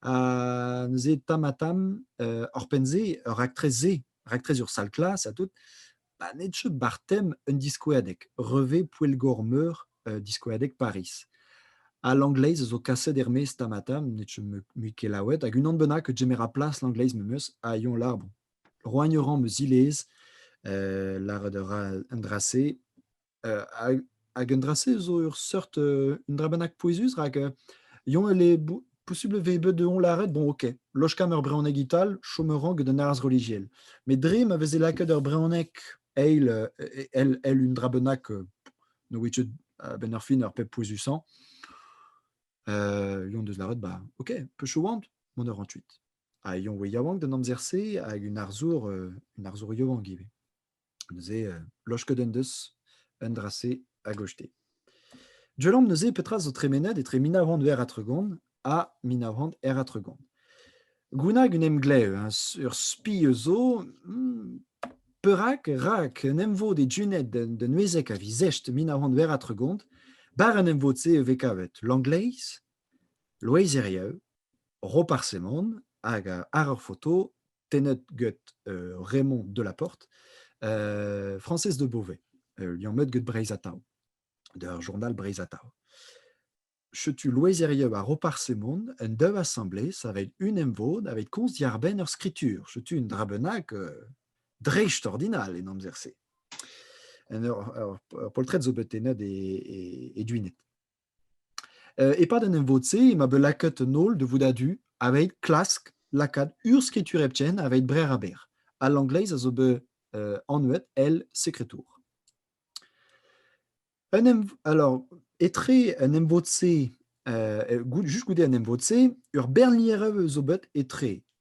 Ha neuze tam-ha-tam, hor penze, ur raktres-se, raktres ur sal-klas, à tout, Banetjeu Bartem, un diskouerdeg, Revez Poellgor-Meur, diskouerdeg Pariz. Ha l'angleiz a zo kaset er-maez tamm-ha-tamm, ne chom mui ket laouen. Hag unan bennak a gemer plas l'angleiz memes ha Yon Larbon. Roagn-Oran 'm eus zilez, lâret a ra un dra-se. hag un dra-se zo ur seurt un dra bennak pouezus rak Yon e le posubl vez bet de on lâret, bon ok, lochkam ur brezhoneg ital, chom a ran gant un arz relijiel. Met dre ma veze lakaet ur brezhoneg eil, el, el un dra bennak, no which a-benn ar fin, ur pep pouezusañ, euh, Yon deus lâret, bah, ok, peu want, mont ur rant huit. Ha Yon oe yaouank d'an amzer-se, hag un arzour, un arzour yaouank ivez. Neuze, euh, lochket en deus un dra-se a-gostez. Dieullamp neuze petra zo tremenet etre mil nav c'hant eur ha tregont ha mil nav c'hant er ha tregont. Gounag un emglev, hein, ur spi eus zo, hmm, perak, rak, un emvod e Juned d'un uezek a vizesht mil nav c'hant eur ha tregont, bar an emvod-se e vez kavet Langleiz, Loeiz Erieu, Roparz Hemon hag ar foto tennet get Raymond Delaporte, Française de Beauvais, lion met get Breiz Atao, der journal Breiz Atao. Chetu loezerieu a Roparsemon en dev assemblée saveit un emvod aveit komz diarbenn ur skritur. Chetu un drabennac euh, dreist ordinal en amzer-se. En ur, ur, ur poltred zo bet tennet e, e, e duinet. Euh, e-pad an emvod-se emañ bet lakaet an holl da vout a-du aveit klask lakaat urzhskritur hepken aveit brer-ha-berr. Al Langlais a zo bet euh, anvet El Secretour. Un emv- alors, etre an emvod-se, euh, goude- juste goude an emvod-se, ur bernlierev zo bet etre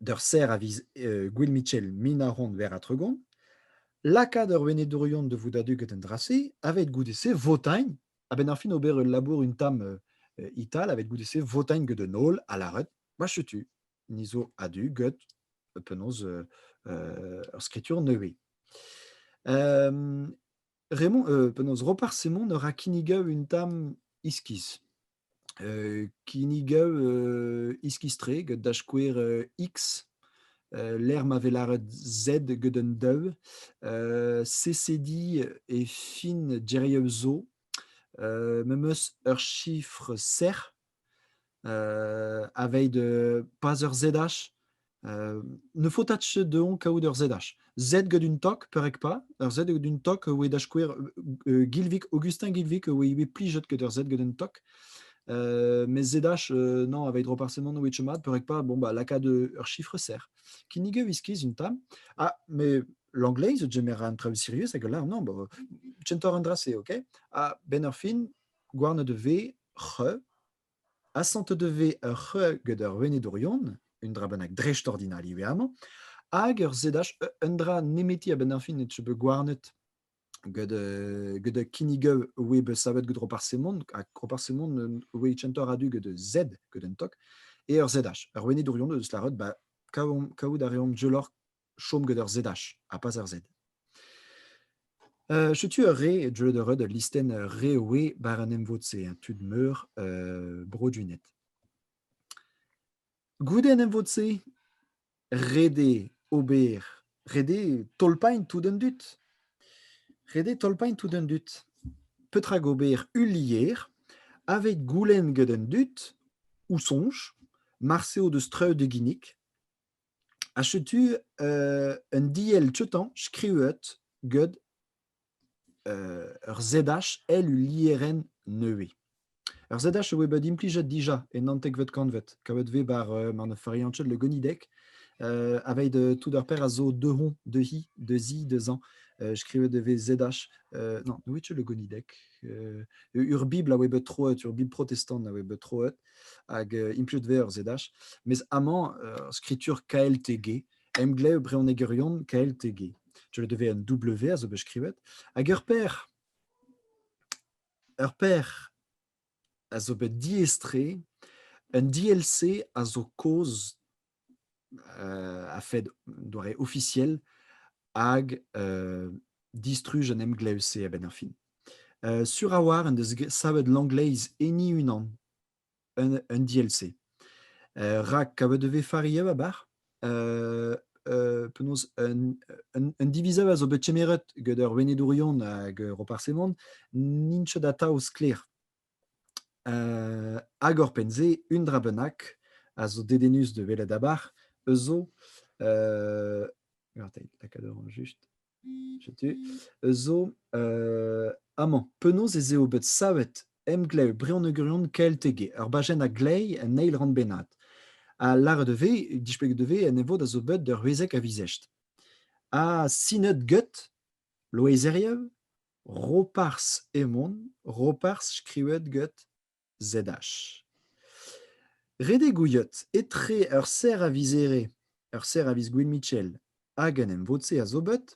d'ur serr a viz Gwil Mitchell mil nav c'hant ver ha tregont, lakaat ur venedourion da vout a-du get an dra-se, aveit goude-se votañ a-benn ar fin ober ul labour un tamm ital, aveit goude-se votañ get un holl ha lâret ma setu ni zo a-du get penaos ur skritur nevez. Raymond, penaos Roparz Semon a ra kinnigañ un tamm iskis. kinnigañ iskis-tre gant da skouer X, lec'h ma vez lâret Z gant un daou, CCD e fin geriañ zo, memes ur chiffre serr, aveilh de pas ur ZH, ne faut tach dehon kaout ur ZH. Z get un tok, perek pas, ur Z get un tok oe da skouer Gilvik, Augustin Gilvik oe ivez plijet get ur Z get un tok. Euh, mais ZH, euh, non, avec droit partiellement no mat, perek pas, bon, bah, laka de ur chiffre serre. Kinige viskiz une tam. Ah, mais l'anglais, the general travel serious, et là, non, bah, Center Andras, ok. Ah, Ben Orphin, Guarna de V, Re, Asantet e vez ur c'heuañ gant ur venedourion, un dra bennak dreistordinal ivez amañ, hag ur sedaj, un dra nemeti a-benn ar fin et je peux gouarnet gant euh, gant kinnig we bet savet gant Roparsemon, ha Roparsemon we chantor a-du gant Z, gant un tok, et ur ZH. Ur venedourion eus lâret, ba, kaout a reomp je lor chom gant ur ZH ha pas ur Z. Euh, Setu ur re e deuet eur ul listenn euh, re oe bar an emvod-se, un tud meur euh, brodunet. Goude an emvod-se, rede ober, rede tolpain tout an dut. Rede tolpain tout an dut. Petra ober ulier, avec goulenn gant an dut, ou sonj, marse o deus treud e ginik, Ha setu euh, un diell tioutañ skrivet get euh, ur ZH el ul lierenn nevez. Ur ZH e voe bet implijet dija e naontekvet kantved, kavet vez bar euh, mar ne fariañ le gonideg, euh, aveit euh, tout ur per a zo dehon, dehi, dezi, dezañ, euh, skrivet e vez ZH. Euh, non, ne le gonideg. Euh, ur bibl a voe bet troet, ur bibl protestant a voe bet troet, hag implij ver zedach. Mes amañ, skritur KLTG, emglev brezhonegerion KLTG. Je le devais un W a zo bet skrivet. Hag ur père, ur père a zo bet diestre, un DLC a zo kaoz a-fed doare ofisiel hag distruj an emglev-se a-benn ar fin. sur a-walc'h en deus savet Langleiz heni unan, un, un DLC. rak kavet e vez faria ba bar, penaos un, un, un divizav a zo bet kemeret gant ur wenedourion hag Roparz Hemon n'int ket atav sklaer. Hag oc'hpenn-se, un dra bennak a zo dedennus da welet abarc'h eus zo. lakaat a ran just. Setu. Eus zo amañ, penaos ez eo bet savet emglev brionegorion Kelteg, ur bajenn a-gleiz en eil rann bennak. Ha lâret e vez, displeget e vez, en e vod a zo bet ur wezeg a-vizesht. Ha sinet get Loeiz Herrieu, Roparz Hemon, Roparz skrivet get ZH. Redek ouiot etre ur serr a viz Here, ur serr a viz Gwyn Mitchell hag un emvod-se a zo bet.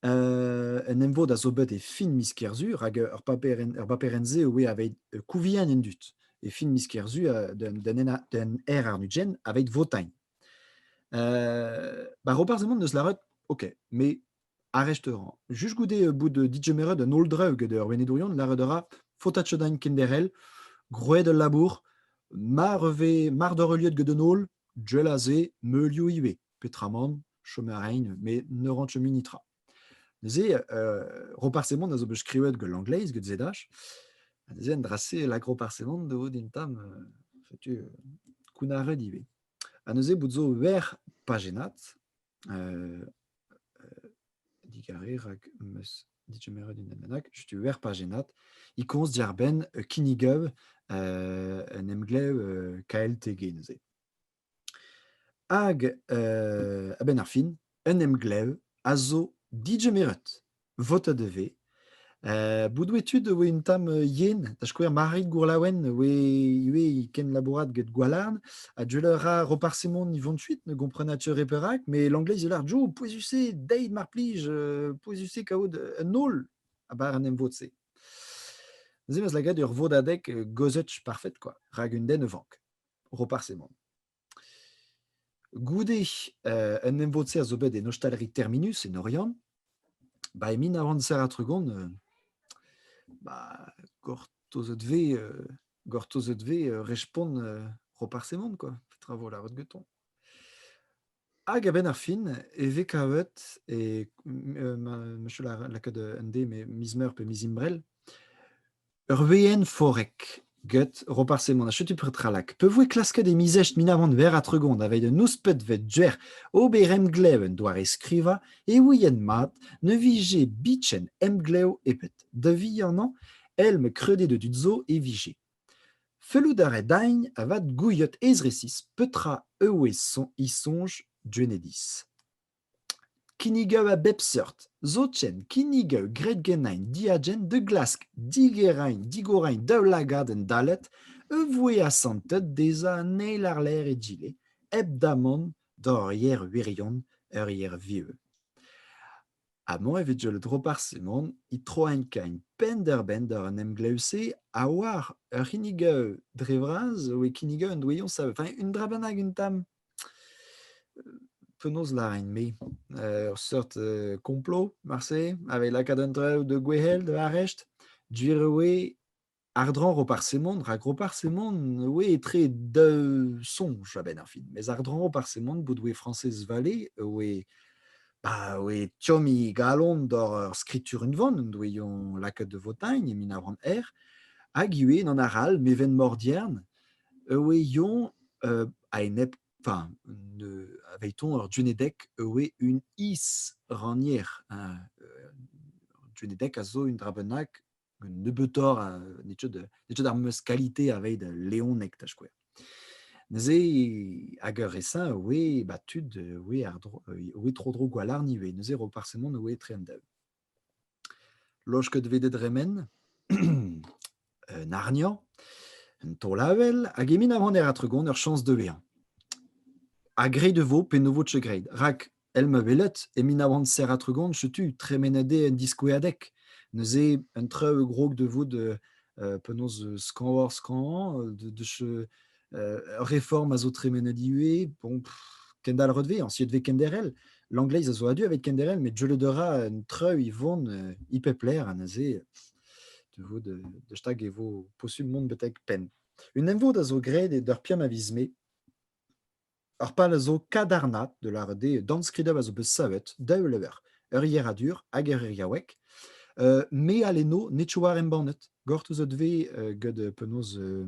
Uh, un emvod a zo bet e fin miz Kerzur hag ur paperenn-se e aveit kouviañ en dud. E fin miz Kerzur d'un er arnudjen aveit votain. Uh, ba Roparz Hemon neus lâret, ok, me ar restaurant. Just goude bout digemeret un holdre get ur venedourion, lâret a ra Fotachedain kenderc'hel, groet ul labour, mar vez mar doc'h heuliet get un holl, jell aze meulioù ivez. Petramant, chom a raint, met ne rankent mui netra. Neuze, euh, Roparsemant a zo bet skrivet gant l'angleiz, get ZH, ha neuze en dra-se, l'agroparsemant da vo din tam, setu, kounnaret ivez. Ha neuze, bout zo ver pajennat, digare, rak meus dije meret unan bennak, chutu wer pajennat, i komz diarbenn kinnigav un emglev KLTG neuze. Hag, a-benn ar fin, un emglev a zo digemeret. votet e vez. Euh, Boudouetud e voe un tamm euh, yen, da skouer Marit Gourlaouen e voe ivez kenlabourat get Gwalarn, ha je leur ra Roparsimon y 28 ne comprenat-tu perak, mais l'anglais il a Joe, pouezus-se, deit mar plij, euh, pouezus-se kaout un nol, a bar an emvod-se. Neuze, eus la gad ur vodadek euh, gozet parfait, quoi, rak un den e vank. Roparsimon. Goude un emvod-se a zo bet en ostaliri Terminus en Oriant, ba e min a oan serr-ha-tregont euh, bah gortozet vez euh, gortozet vez euh, respont euh, Roparz Hemon quoi, petra vo lavaret gantañ. Hag a-benn ar fin e vez kavet e m- ma- monsieur la lakaat un D mais miz meur pe miz imbrel Ur veenn forek get Roparz Hemon ha setu petralak. Pa voe klasket e mizech minavant ver a tregont aveit un nouspetvet duer ober emglev un doare-skrivañ e ouien mat ne vije bichen emglev ebet. Da vihanañ, el me krede de tud zo e vije. Fellout a rae daign avat gouiet ez resis petra e oe son isonj Duenediz. Kinnigaou a bep seurt, zoken kinnigaou graet ganin diagent da glask digerañ digorañ daoulagad endallet a voe asantet dezhañ an eil àr-lerc'h egile, hep damant d'ur yer wirion, ur yer viv. Amañ e vije Drobar Simon é troiñ kain penn-da-benn d'ar emglev-se ha war ur c'hinnigaou dre vras e voe kinnigaou un doaion savet. Enfin, un dra bennak un tamm. Penaos lârin-me? Ur seurt komplo marse a vez lakaet an traoù da gwehel da arrest. Gwir eo eo àr-dro Roparz-Semon rak Roparz-Semon eo etre daou soñj a-benn ar fin. Mes àr-dro Roparz-Semon bout oe Frañsez Vallée oe bah oe tomm he galon doc'h ur skritur-unvan en doe-eñ lakaet da Votagne e mil nav c'hant c'hwec'h hag ivez, n'en arall, Meven Mordiern Eue Ion, euh, a-enep, enfin, ne, avait-on ur Dunedek eue un is-rannier. Hein? Euh, Dunedek a zo un dra bennak, un nebeutoc'h, nebeut ar meus kalite aveit leonek, da skouer. Neuze, hag ur resin oe, ba tud oe, ar dro, oe tro-dro gwalarn ivez, neuze ro parsemant oe tre an daou. Laosket eo bet dre men un harniañ, un taol-avel hag e Menavant e ra tregont ur chañs da vezañ. Ha graet e vo pe ne vo Tchegreid rak, èl ma welet, e Menavant serra-tregont setu tremenadé en diskouezadeg. Neuze un traoù a grog da vout penaos skañvañ-skañvañ, da réforme a zo tremenet ivez, bon, Kendall Redvey, ancien de Kenderel, l'anglais a zo adu avec Kenderel, mais je le dora en treu ivon euh, ipepler an aze de vo de, de stag evo posubmon betek pen. Un emvod a zo graet e d'ur piam a viz me, Ar pal a zo kadarnaat, da lâret eo, dornskridañ a zo bet savet, daou lever, ur yeradur hag ur iriaoueg. Euh, me al eno ne tchou war embannet. Gortoz out ve euh, gant euh, penaos euh,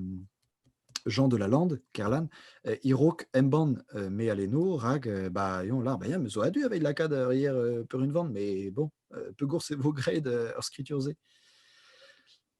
Jean de la Lande, Kerlan, euh, irok embann euh, me al eno, rag euh, ba eon lar, ba ya, me zo adu aveit lakaat ur yer euh, per unvan, mais bon, euh, pegours e vo graet euh, ur skritur-se?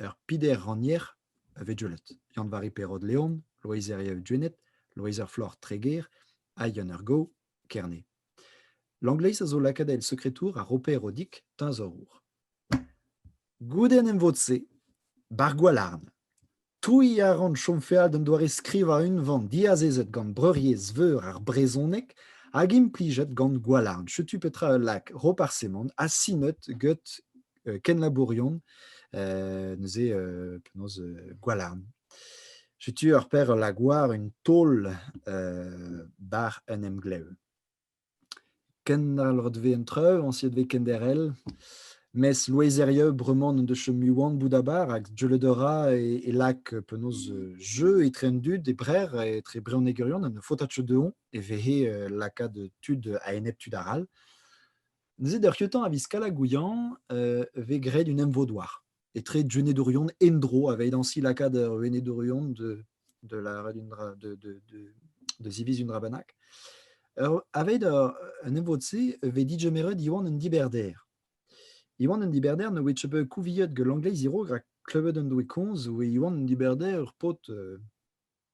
Ur pider-rannier a vegellot, Yann-Vari Perrot-Leon, Loeiz Herrieu-Duennet, Loeiz ar Floc'h-Treger ha Yann ar Gow, Kerne. Langleiz a zo lakaat el sekretour ha Roper Odig, teñzorour. Goude an emvod-se, Bar Gwalarn. Touiñ a ran chom feal d'un doare-skrivañ unvan diazezet gant Breuriezh Veur ar brezhoneg hag implijet gant Gwalarn. Setu petra ul lak Roparsemant asinet get euh, kenlabourion euh, neuze euh, penaos euh, Gwalarn. Setu ur per ul lak war un taol euh, bar un emglev. Kendalc'het vez an traoù, añsiet vez kenderc'hel. Mes loezerieu bremañ n'en deus chom mui c'hoant bout abar hag deuet a ra e lak penaos jeu etre an dud, e Brec'h, etre brezhonegerion. Un faotad cheu dezhoñ e vehe lakaat tud a-enep tud arall. Neuze, d'ar c'hioutañ a viz Kalagouiañ, vez graet un emvod-douar. etre Duenedourion endro, avait ainsi l'acad Duenedourion de, de la de, de, de, de ziviz un rabanak. Aveit un evod-se ve digemeret Iwan un diberder. Iwan un diberder ne oe tebe kouviet ge l'anglais irog rak klevet un doe konz oe Iwan un diberder ur paotr euh,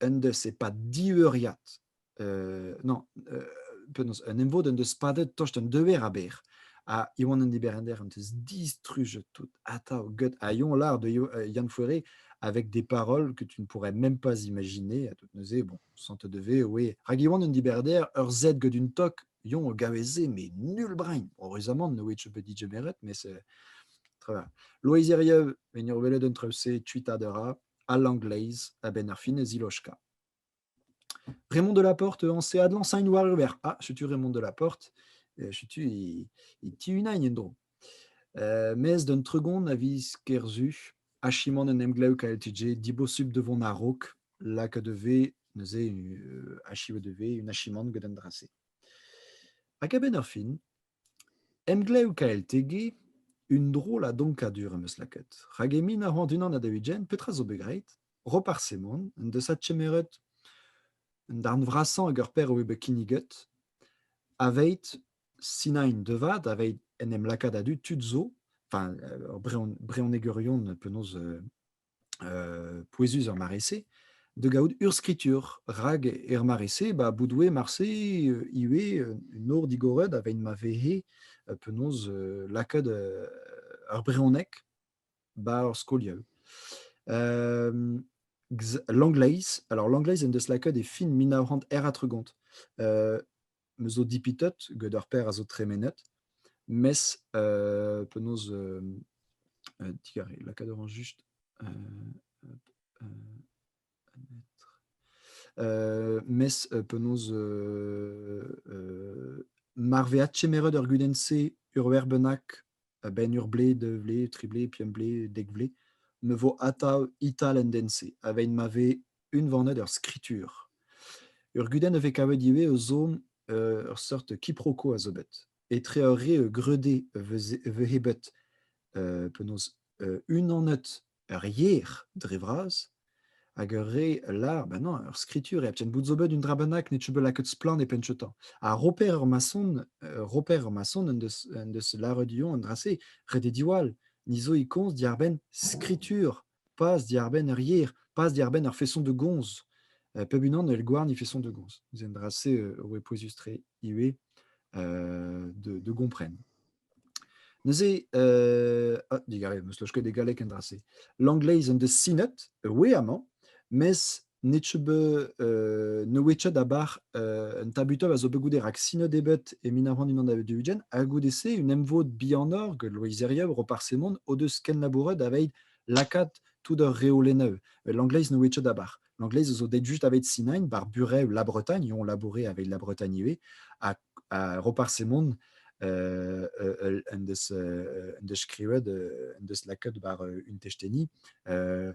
un deus e-pad diveuriad, euh, non, euh, penaos, un emvod en deus padet tost un dever aber, ha Iwan an Diberender en deus distrujet tout atav get a yon lar de euh, Yann Fouéré avec des paroles que tu ne pourrais même pas imaginer à tout neuze. Bon, sans te devait, oui. Rag Iwan an Diberder, ur zed get un tok, yon o gaveze, mais nul brain. Heureusement, no which peut dire mais c'est très bien. Loïs Erieu, venir veler d'un treussé, tuita de rat. a Langleiz a-benn ar fin e ziloskañ. Raymond Delaporte anse adlañsañ war River. Ah, setu Raymond Delaporte. setu e tiunain en-dro. Mes d'un tregont a viz Kerzu, achimant en emglev KLTG dibosubl de vont a-raok, lakaat de vez, neuze, achiv de vez, un achimant get an dra-se. Hag a-benn ar fin, Emglev KLTG, un drollad donkadur am eus lakaet, rak e mil nav c'hant unan ha daou-ugent, petra zo bet graet? Roparz Semon en deus adkemeret un darn vrasañ ag ar perv eo bet kinniget, aveit sinañ int devat, aveit en em lakaat a-du tud zo, enfin ur brehon- brehonegerion penaos pouezus er mare-se da gaout urzhskritur, rak er mare-se, bah, bout oe marse ivez un nor digoret aveit ma vehe penaos lakaet ar brezhoneg 'ba ar skolioù. Langleiz, alors langleiz en deus lakaet e fin mil nav c'hant er ha tregont. me zo dipitot get ur per a zo tremenet, mes euh, penaos euh, euh, digare lakaat a juste euh, euh, euh, mes euh, penaos euh, euh, marveat chemered ur gudenn-se ur werbenak a-benn ur blez, deux blez, tri blez, pemp blez, dek blez, me vo atav ital en den-se, avein ma ve unvanet ur skritur. Ur gudenn a vez kavet ivez eus zo euh, ur seurt kiproko a zo bet. Etre ur re e greude e vez bet euh, penaos euh, unanet ur yer dre vras, hag ur re lar, ben non, ur skritur, e aptien bout zo bet un dra bennak ne teu bet lakaet splann e penchetañ. Ha Roper ur mason, euh, Roper ur mason en deus, en deus laret dion un dra-se, ret eo diwall, ni zo e komz diarbenn skritur, pas diarbenn ur yer, pas diarbenn ur feson de gomz. Euh, peb unan el gouarn e feson de gomz. C'est un drasé euh, pouezus tre ivez euh, de, de comprendre. Neuze, euh, ah, digarez, meus loj ket e galleg en dra-se. L'angleiz en deus sinet, we amañ, mes net se be euh, ne wetchet abar euh, un tabutob a zo bet goude rak sinet ebet e min avran unan da dugen, ha goude-se un emvod bihanor get Loizerieu ro par semon o deus kenlabouret aveit lakaat tout ur reolenneù. L'angleiz ne wetchet abar. L'anglais zo det juste avec Sinain, bar burev La Bretagne, on labourait avec La Bretagne ivez, à, à Roparsemon, euh, euh, en des uh, en des skrivet en des laket bar un techteni uh,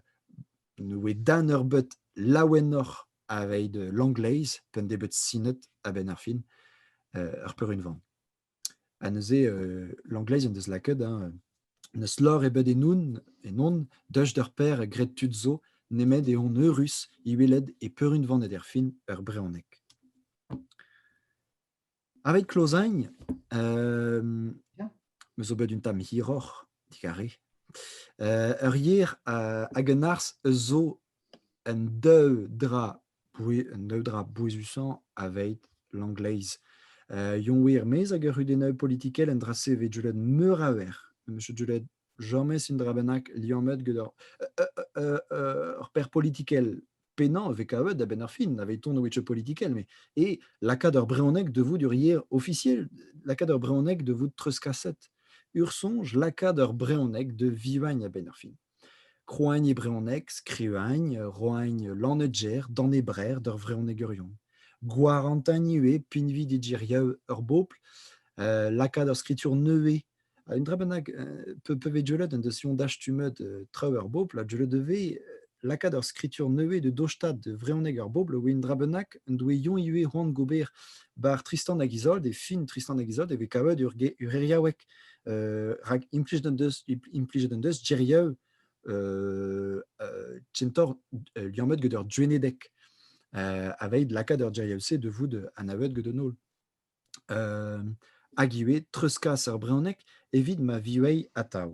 ne dan ur bet laouennoc'h aveit l'anglais pen debet sinet a ben ar fin ur peurunvan Ha neuze Langleiz en deus lakaet hein n'eus lor ebet enoun ennon deus d'ur paer graet tud zo nemet eh on eürus e welet e peurunvanet erfin ur brezhoneg. Aveit Klozaign, me zo bet un tamm hiroc'h, digarez, ur yer hag un arz eus zo Un daou dra un daou dra bouezusañ aveit Langleiz. Yoñ eo er-maez ag ur c'hudennaoueg politikel un dra-se e vez deuet meur a wer. Meus deuet james un dra bennak liammet gant ur perzh politikel. Pennañ e vez kavet a-benn ar fin aveit tont a-wetch politikel met eo lakaat ur brezhoneg da vout ur yer ofisiel, lakaat ur brezhoneg da vout treuzkaset. Ur soñj lakaat ur brezhoneg da vivagn a-benn ar fin. Krouañ e brezhoneg, skrivañ, roañ lannegger, danebrer d'ur vrezhonegourion. Gwarantañ ivez pinvidik geriaou ur bobl, lakaat ur skritur nevez. Un dra bennak peuvdieullet en deus soñj dastumet traoù ur bobl ha dieullet e vez lakaat ur skritur nevez da dostaat vrezhoneg ur bobl eo un dra bennak en doa Yoñ ivez c'hoant gober 'ba ar Tristan hag Izold e fin Tristan hag Izold e vez kavet ur geriaoueg. rak implijet en deus implijet en deus gerieu euh, euh, chentor euh, liammet get ur duenedek aveit lakaat ur geriel-se de vout anavet get un holl. hag ivez treuzkas ur brezhoneg evit ma viouei atav.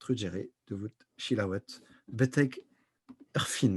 Trugere da vout selaouet betek ur fin.